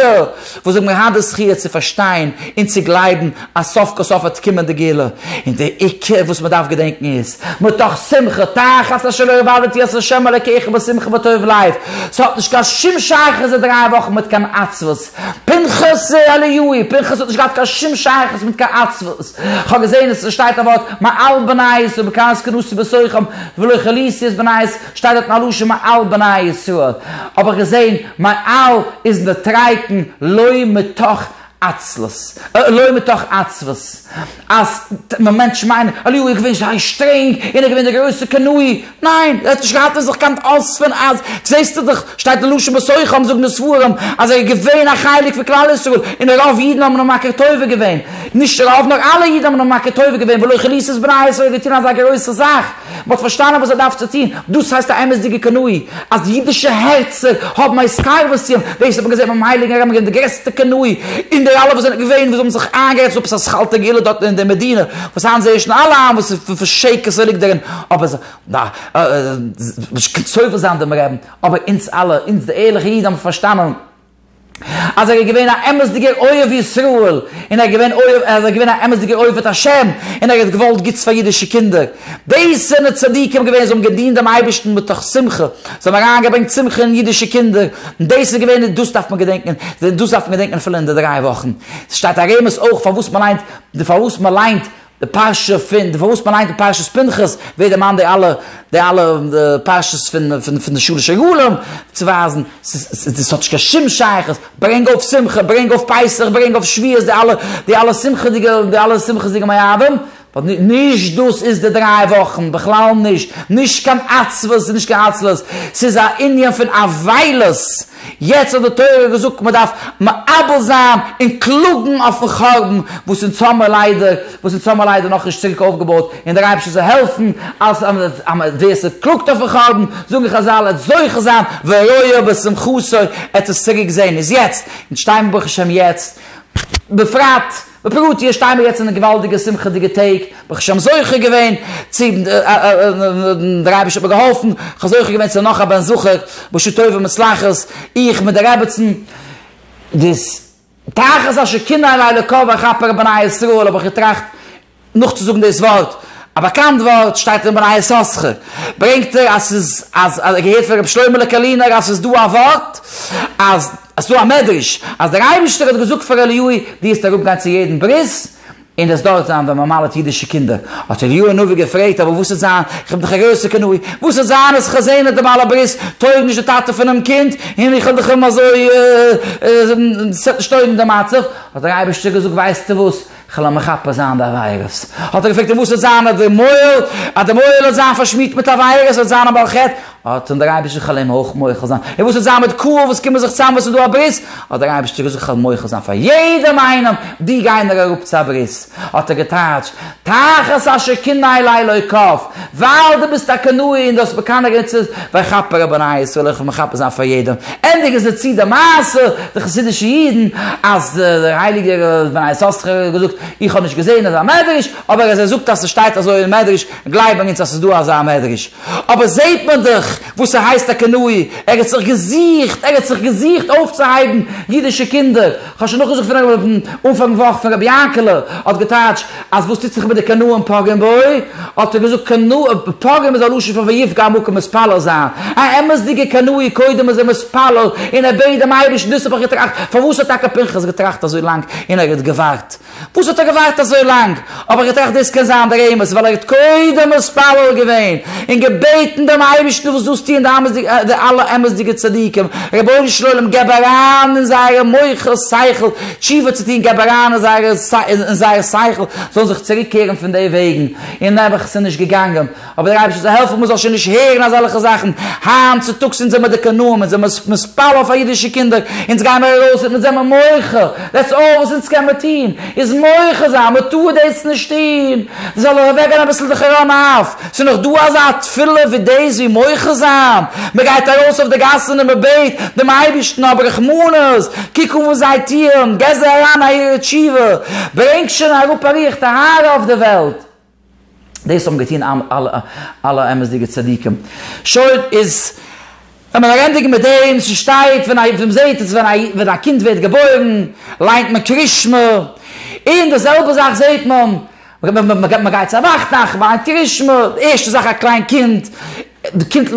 וואס זיי האבן געהאט די זכי' צו פארשטיין און צו גלייבן אז סוף כל סוף וועט קומען די גאולה, און די עיקר וואס מען דארף געדענקן איז, מתוך שמחה תחת אשר לא עבדתי את ה' אלקיך בשמחה וטוב לב, ס'האט נישט קיין שום שייכות די דריי וואכן מיט קיין עצבות, פנחס זי ע ליואי, פנחס האט נישט געהאט קיין שום שייכות מיט קיין עצבות, כ'האב געזען עס שטייט א ווארט מעל בנייס ובקרת כנוס ובסוחם ולא כליסי את בנייס, שטייט דארט מיין לשון מעל בני ישראל, האב איך געזען מעל איז נתרייקן לא מתוך עצלות, לא מתוך עצבות, אז מען מענטש מיינען אליהו איז געווען זייער שטרענג און ער איז געווען דער גרויסער קנאי, ניין ער האט נישט געהאט אין זיך קיין אוספען אז זעסטו דאך שטייט אין לשון בסוחם זאגן די ספרים אז ער איז געווען א חלק פון כלל ישראל און רוב אידן האבן אים מכיר טובה געווען, נישט רוב נאר אלע אידן האבן אים מכיר טובה געווען ולא כליסות בני ישראל האט געטון אזא גרויסע זאך. מען האט פארשטאנען וואס ער דארף צו טון, דאס הייסט א אמת'דיגע קנאה, אז אידישע הערצער האבן א התקרבות צו אים, דאס האט מען געזען ביים הייליגן רמב ם, די גרעסטע קנאה, און די אלע וואס זענען געווען וואס האבן זיך איינגערעדט עפעס א שכל תגלת דארט אין די מדינה, וואס היינט זעהט שוין אלע איין וואס פאר שקר ס'ליגט דערין, אבער זיי ווילן נישט סובל זיין דעם רעבן, אבער אונז אלע, אונז די ערליכע אידן האבן פארשטאנען. אז ער איז געווען א אמת'דיגער אוהב ישראל, און ער איז געווען אוהב, אז ער איז געווען א אמת'דיגער אוהב את השם, און ער האט געוואלט גוטס פאר אידישע קינדער. דאס זענען צדיקים געווען, זיי האבן געדינט דעם אייבערשטן מתוך שמחה, זיי האבן אריינגעברענגט שמחה אין אידישע קינדער, און דאס איז געווען, און דאס דארף מען געדענקען, דאס דארף מען געדענקען אפילו אין די דריי וואכן. ס'שטייט א רמז אויך פארוואס מען ליינט, פארוואס מען ליינט, די פרשה פון די פארוואס מען ליינט אין פרשת פנחס ווערט דערמאנט די אלע די אלע פרשות פון פון די שלש עגלים צו ווייזן ס'איז ס'האט נישט קיין שום שייכות ברענג אויף שמחה ברענג אויף פסח ברענג אויף שביעות די אלע די אלע שמחה'דיגע די אלע שמחה'דיגע מועדים ווייל נישט דאס איז די דריי וואכן בכלל נישט נישט קיין עצבות נישט קיין עצלות ס'איז א ענין פון אבילות יעצט האט די תורה געזאגט מען דארף מאבל זיין און קלאגן אויפן חרבן וואס אונז האמער ליידער וואס אונז האמער ליידער נאכנישט צוריק אויפגעבויט און דער אייבערשטער זאל העלפן אז ווער ס'קלאגט אויפן חרבן זאגן חזל עט זוכה זיין ורואה בשמחתו עט עס צוריק זען איז יעצט אונז שטיימער ברוך השם יעצט בפרט בפירוט, איר שטייען מיר יעצט אין די געוואלדיגע שמחה'דיגע טעג, ברוך השם זוכה געווען צו, דער אייבערשטער האט מיר געהאלפן, כ'האב זוכה געווען צו נאך א בן זכר, בשעה טובה ומוצלחת, איך מיט די רעבעצן, דאס תחת השכינה אלי לקח ואכפר בני ישראל האב איך געטראכט, נאכצוזאגן דאס ווארט, א באקאנט ווארט שטייט אין בני יששכר, ברענגט ער אז ס'איז אז ער האט געהערט פון רבי שלמה'לע קארלינער אז ס'איז דא א ווארט אז עס דא א מדרש אז דער אייבישטער האט געזאגט פאר אליהו דו וועסט אראפ גיין צו יעדן ברית און דאס דארט זיין ווען מען מל'עט אידישע קינדער, האט אליהו הנביא געפרעגט אבער וואס וועט זיין איך בין דאך א גרויסע קנאי וואס וועט זיין אז איך האב זעהן אז די בעל הברית טויג נישט די טאטע פונעם קינד און איך האב דאך אים אזוי עס וועט נישט טויגן די מצב, האט דער אייבישטער געזאגט ווייסטו וואס כ'על אים מכפר זיין די עבירות. האט ער געפרעגט און וואס וועט זיין אויף דעם מויל, אז דער מויל וועט זיין פארשמירט מיט עבירות, וועט זיין א בעל חטא, האט אים דער אייבערשטער כ'על אים אויך מוחל זיין, און וואס וועט זיין מיט קהל וואס קומען זיך צאם וואס איז דא א ברית, האט דער אייבערשטער געזאגט כ'על מוחל זיין פאר יעדעם איינעם, די גייען נאר אראפ צו א ברית, האט ער געטייטשט, תחת אשר קנאי לאלוקיו, ווייל דו ביסט א קנאי און דו האסט מקנא געווען צו וויי כאפ ער א בני ישראל איך וועל מחפה זיין פאר יעדעם, ענדיג איז ער צו די מעשה, די חסידישע אידן, אז דער הייליגער בני ישראל האט זיך געזאגט, איך האב נישט געזען אזא מדרש, אבער אז ער זאגט אז ס'שטייט אזוי אין מדרש, גלייבן אונז אז ס'איז דא אזא מדרש. אבער זעט מען דאך וואס ס'הייסט א קנאי, ער האט זיך געזוכט, ער האט זיך געזוכט אויפצוהייבן אידישע קינדער, כ'האב שוין נאכגעזוכט פון רב אויבן אנפאנג וואך פון רבי יענקעלע האט געטייטש אז וואס טוט זיך מיט די קנאים פוגעים בו, האט ער געזאגט קנאה, פוגעים איז א לשון פון ויפגע המכה מתפלל זיין, א אמת'דיגע קנאי קודם איז ער מתפלל און ער בעט דעם אייבערשטן דאס האב איך געטראכט, פארוואס האט טאקע פנחס געטראכט אזוי לאנג און ער האט געווארט וואס האט ער געווארט אזוי לאנג? האב איך געטראכט דאס קען זיין דער אמת ווייל ער האט קודם מתפלל געווען און געבעטן דעם אייבערשטן וואס דאס טוען די אלע אמת'דיגע צדיקים, רבונו של עולם געב אריין אין זייערע מוחות שכל תשובה צו טון געב אריין אין זייערע אין זייער שכל זאלן זיך צוריק קערן פון די וועגן און נעבעך ס'איז נישט געגאנגען. אבער דער אייבערשטער זאל העלפן מ'זאל שוין נישט הערן אזעלכע זאכן, היינט צוטאגס אונז זעמער די קנאים, אונז זעמער מספל אויף א אידישע קינדער, אונז גיימער ארויס און אונז זעמער מוחה, דעטס אלל וואס אונז קעמער טון, איז מוחה זיין, מ'טאר דאס נישט טון, דאס זאל אויך אוועקגיין אביסל די חרון אף, ס'איז נאך דא אזא תפילה ווי דאס ווי מוחה זיין, מ'גייט ארויס אויף די גאסן און מ'בעט דעם אייבערשטן האב רחמנות, קוק אן וואס זיי טוען, גיב זיי אריין א עיר תשובה, ברענג שוין אראפ א רוח טהרה אויף די וועלט. דאס האבן געטון אלע אמת'דיגע צדיקים. שוין, איז ווען מ'וויל ענדיגן מיט דעם, ס'שטייט ווען א, מ'זעט עס ווען א קינד ווערט געבוירן, ליינט מען קרית שמע, און די זעלבע זאך זעט מען, מ'גייט צו א וואכטאג, מ'ליינט קרית שמע, די ערשטע זאך א קליין קינד, קומט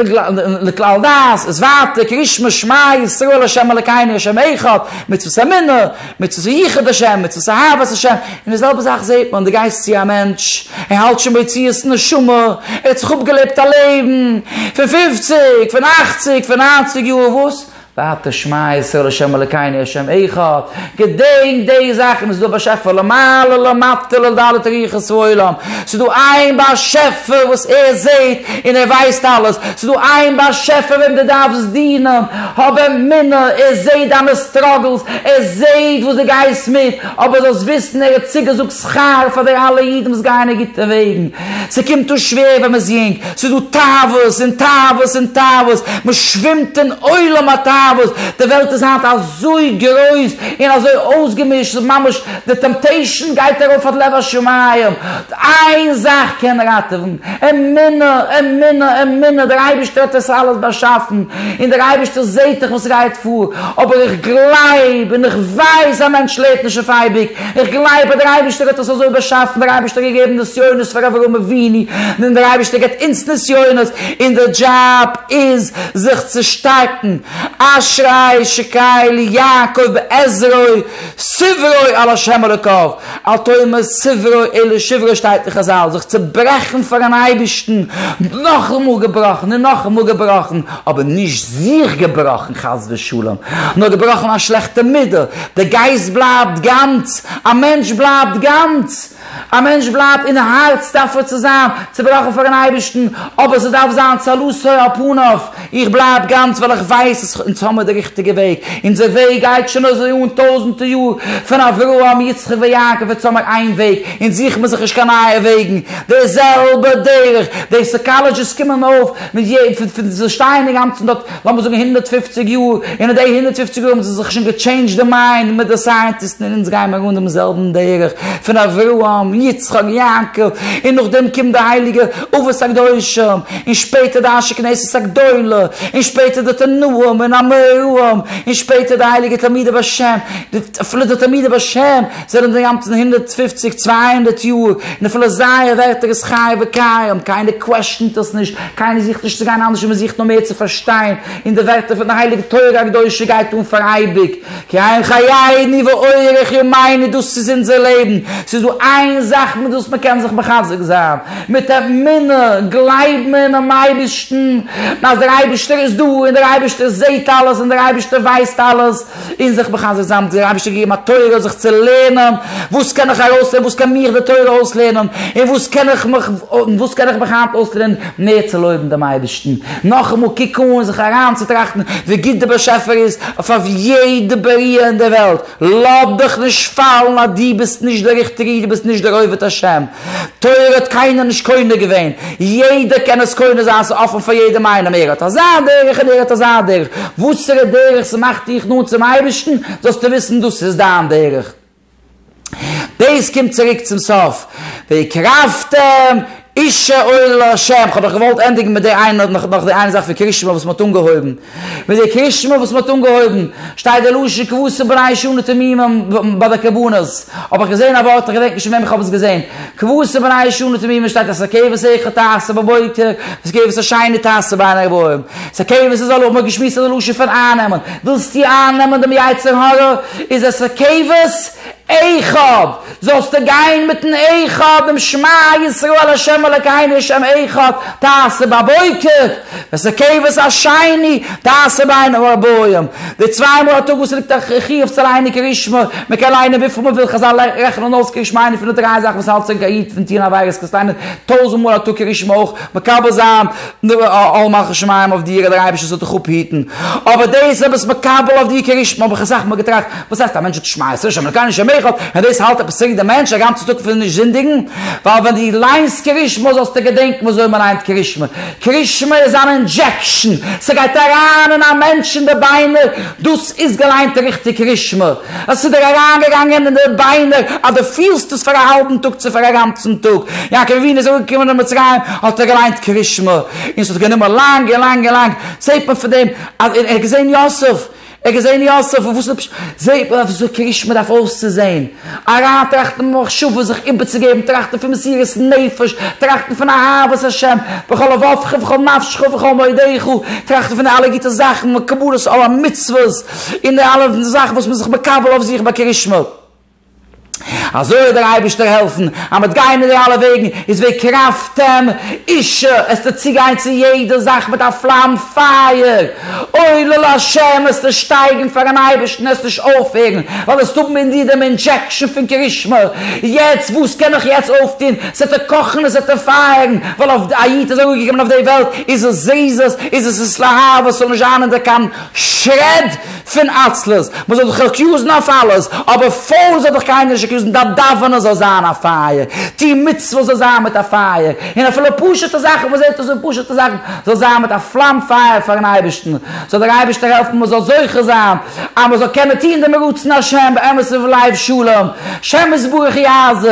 לכלל דעת, איז ווייטער קרישמע שמע ישראל השם אלקינו השם אחד, מצוות אמונה, מצוות יחוד השם, מצוות אהבת השם, און די זעלבע זאך זעט מען, די גייסט צו א מענטש, ער האלט שוין ביציאת נשמה, ער האט זיך אפגעלעבט א לעבן, פון פופציג, פון אכציג, פון ניינציג יאר, וואס? ואתה שמע ישראל ה' אלקינו ה' אחד, געדענק די זאכן, ס'איז דא א באשעפער למעלה למטה לדלת ריחות העולם, ס'איז דא איין באשעפער וואס ער זעהט און ער ווייסט אלעס, ס'איז דא איין באשעפער וועם דו דארפסט דינען, האב אמונה, ער זעהט דיינע סטראגלס, ער זעהט וואס דו גייסט מיט, אבער זאלסט וויסן ער האט צוגעזאגט שכר פאר די אלע אידן וואס גייען אין גוטע וועגן. ס'קומט אן שווער ווען מ'איז יונג, ס'איז דא תאוות און תאוות און תאוות, מ'שווימט אין עולם התאוות, די וועלט איז היינט אזוי גרויס און אזוי אויסגעמישט, ס'איז ממש, די טעמפטעישאן גייט ארויף עד לב השמים, איין זאך קען ראטעווען, אמונה, אמונה, אמונה, דער אייבערשטער האט עס אלעס באשאפן, און דער אייבערשטער זעט דאך וואס גייט פאר, אבער איך גלייב און איך ווייס א מענטש לעבט נישט אויף אייביג, איך גלייב אז דער אייבערשטער האט אונז אזוי באשאפן, דער אייבערשטער האט געגעבן נסיונות פאר אברהם אבינו, נו דער אייבערשטער געבט אונז נסיונות, אונזער דזשאב איז זיך צו שטארקן, אשרי שקראי לי יעקב בעזרו סברו על השם אלוקיו, אל תאמר סברו אלא שברו שטייט אין חזל, זיך צוברעכן פארן אייבערשטן, נאכאמאל געבראכן און נאכאמאל געבראכן, אבער נישט זיך געבראכן חס ושלום, נאר געבראכן א שלעכטע מידה, דער גייסט בלייבט גאנץ, א מענטש בלייבט גאנץ, א מענטש בלייבט אין הארץ דארף ער צו זיין צעבראכן פאר'ן אייבערשטן, אבער ס'דארף זיין צלותו על פניו, איך בלייב גאנץ ווייל איך ווייס אז אונז האמיר די ריכטיגע וועג, אונזער וועג גייט שוין אזוי אן טויזנטער יאר, פון אברהם יצחק ויעקב אונז האמיר איין וועג, אונז זוכן מיר זיך נישט קיין נייע וועגן, די זעלבע דרך, די סאקאלעדזשיסט קומען אויף, פון די שטייען אינגאנצן דארט, לאמיר זאגן הונדערט פֿופֿציק יאר, און אין די הונדערט פֿופֿציק יאר האבן זיי זיך שוין געטשעינדזשט די מיינד מיט די סייענטיסטן און אונז גייען מיר אן דעם זעלבן דרך פון אברהם, יצחק, יעקב, און נאכדעם קומט די הייליגע אבות הקדושים, און שפעטער די אנשי כנסת הגדולה, און שפעטער די תנאים און אמוראים, און שפעטער די הייליגע תלמידי בעש ט, אפילו די תלמידי בעש ט, זענען די אינגאנצן הונדערט פֿופֿציק צוויי הונדערט יאר, און אפילו זייער ווערטער איז חי וקיים, קיינער קוועשענט עס נישט, קיינער זוכט נישט צו גיין אנדערש און מען זוכט נאר מער צו פארשטיין, און די ווערטער פון די הייליגע תורה הקדושה גייט אן פאר אייביג, כי הם חייני ואורך ימינו דאס איז אונזער לעבן, ס'איז דא איין זאך מיט וואס מען קען זיך מחזק זיין, מיט אמונה, גלייב מיר אינעם אייבערשטן, אז דער אייבערשטער איז דא, און דער אייבערשטער זעט אלעס, און דער אייבערשטער ווייסט אלעס. און זיך מחזק זיין מיט דער אייבערשטער געגעבן א תורה זיך צו לערנען, וואס קען איך ארויסלערנען, וואס קען מיך די תורה אויסלערנען, און וואס קען איך מיך, און וואס קען איך מיך היינט אויסלערנען מער צו לויבן דעם אייבערשטן, נאכאמאל קוק אן און זיך אריינצוטראכטן ווי גוט דער באשעפער איז אויף אויף יעדע בריה אין דער וועלט, לאז דיך נישט פאלן אז דו ביסט נישט דער ריכטיגער איד, דו ביסט נישט דער עובד השם, תורה האט קיינער נישט קונה געווען, יעדער קען עס קונה זיין, ס'איז אפען פאר יעדעם איינעם, ער האט אזא דרך און ער האט אזא דרך, וואסערע דרך ס'מאכט דיך נאנט צום אייבערשטן זאלסטו וויסן דאס איז דיין דרך, דאס קומט צוריק צום סוף, והקרבתם איש אל ה', כ'האב דאך געוואלט ענדיגן מיט די איינע, נאך די איינע זאך פון קרישמע וואס מ'האט אנגעהויבן, מיט די קרישמע וואס מען האט אנגעהויבן, שטייט די לשון כבשה בריש אנע תמימים ביי די קרבנות, האב איך געזען א ווארט, איך געדענק נישט פון וועם איך האב עס געזען, כבשה בריש אנע תמימים שטייט אז ס'איז א כבש איכה תעשה בבוקר, וואס כבש א שיינע תעשה ביי אן ערבים, ס'איז א כבש איז א לוח, מען האט געשמועסט אז די לשון פון אייננעמען, ווילסטו אייננעמען דעם יצר הרע, איז עס א כבש, אחד, זאלסטו גיין מיטן אחד, דעם שמע ישראל ה' אלקינו ה' אחד, תעשה בבוקר, וסקבת השני, תעשה ביינם ובאוים, די צוויי מאל א טאג וואס ליגט א חיוב צו לייענען קריאת שמע, מען קען לייענען וויפיל מען וויל, חזל רעכענען אויס קריאת שמע איינע פון די דריי זאכן וואס האלט צוריק א איד פון טון עבירות, קענסט לייענען טויזנט מאל א טאג קריאת שמע אויך, מקבל זיין. אל מלכות שמים אויף דיר דער אייבערשטער זאל דיך אפהיטן, אבער דאס האב איך מקבל אויף דיר כריש מים האב איך אסאך מאל געטראכט, וואס הייסט א מענטש האט שמע ישראל שמע אלקינו שמע אחד, און דאס האלט עפעס צוריק דעם מענטש א גאנצע טאג פון נישט זינדיגן, ווייל ווען דו ליינסט כריש מים זאלסטו געדענקן ווי אזוי מען לייענט כריש מים, כריש מים איז אן אינדזשעקשאן, ס'גייט אריין אין א מענטש אין די ביינער, דאס איז געליינט ריכטיג כריש מים. עס איז דיר אריינגעגאנגען אין די ביינער אז דו פילסט עס פאר א האלבן טאג צו פאר א גאנצן טאג. יעקב אבינו איז אנגעקומען אין מצרים האט ער געליינט קרית שמע און עס האט גענומען לאנג און לאנג און לאנג זעט מען פון דעם אז ער האט געזען יוסף ער האט געזען יוסף און וואס איז די פשט זעט מען וויאזוי קרית שמע דארף אויסצוזען אריינטראכטן אין מחשבה זיך איבערצוגעבן טראכטן פון מסירת נפש טראכטן פון אהבת השם בכל לבבך ובכל נפשך ובכל מאודיך טראכטן פון די אלע גוטע זאכן וקבלת עול המצוות און די אלע זאכן וואס מען איז זיך מקבל אויף זיך ביי קרית שמואל. אזוי האט דער אייבערשטער העלפן אז מען וועט גיין אין די אלע וועגן, איז ווער קראפטעם אישה, עסטו צוגיין צו יעדע זאך מיט א פלאם פייער, עולה להשם, עסטו שטייגן פארן אייבערשטן, עסט נישט אויפהערן, ווייל עסט האבן אין דיר דעם אינדזשעקשן פון קרית שמואל, יעצט וואס קען איך יעצט אויפטון, עס וועט ער קאכן עס וועט ער פייערן, ווייל אויף א איד איז אראפגעקומען אויף די וועלט, איז עס זריזות, איז עס איז להר, וואס זאל נישט זיין אין דער קאנ. שרעד פון עצלות, מען זאל זיך עקיוזן אויף אלעס, אבער פאון זאל זיך קיינער נישט עקיוזן, דיין דאווענען זאל זיין א פייער, טו מצוות זאל זיין מיט א פייער, און אפילו פשוט'ע זאכן, מען זעט עס און פשוט'ע זאכן, זאל זיין מיט א פלאם פייער פאר'ן אייבערשטן, זאל דער אייבערשטער העלפן מען זאל זוכה זיין אז מען זאל קענען טון דעם רצון השם באמת ובלב שלם, שם יתברך יעזור.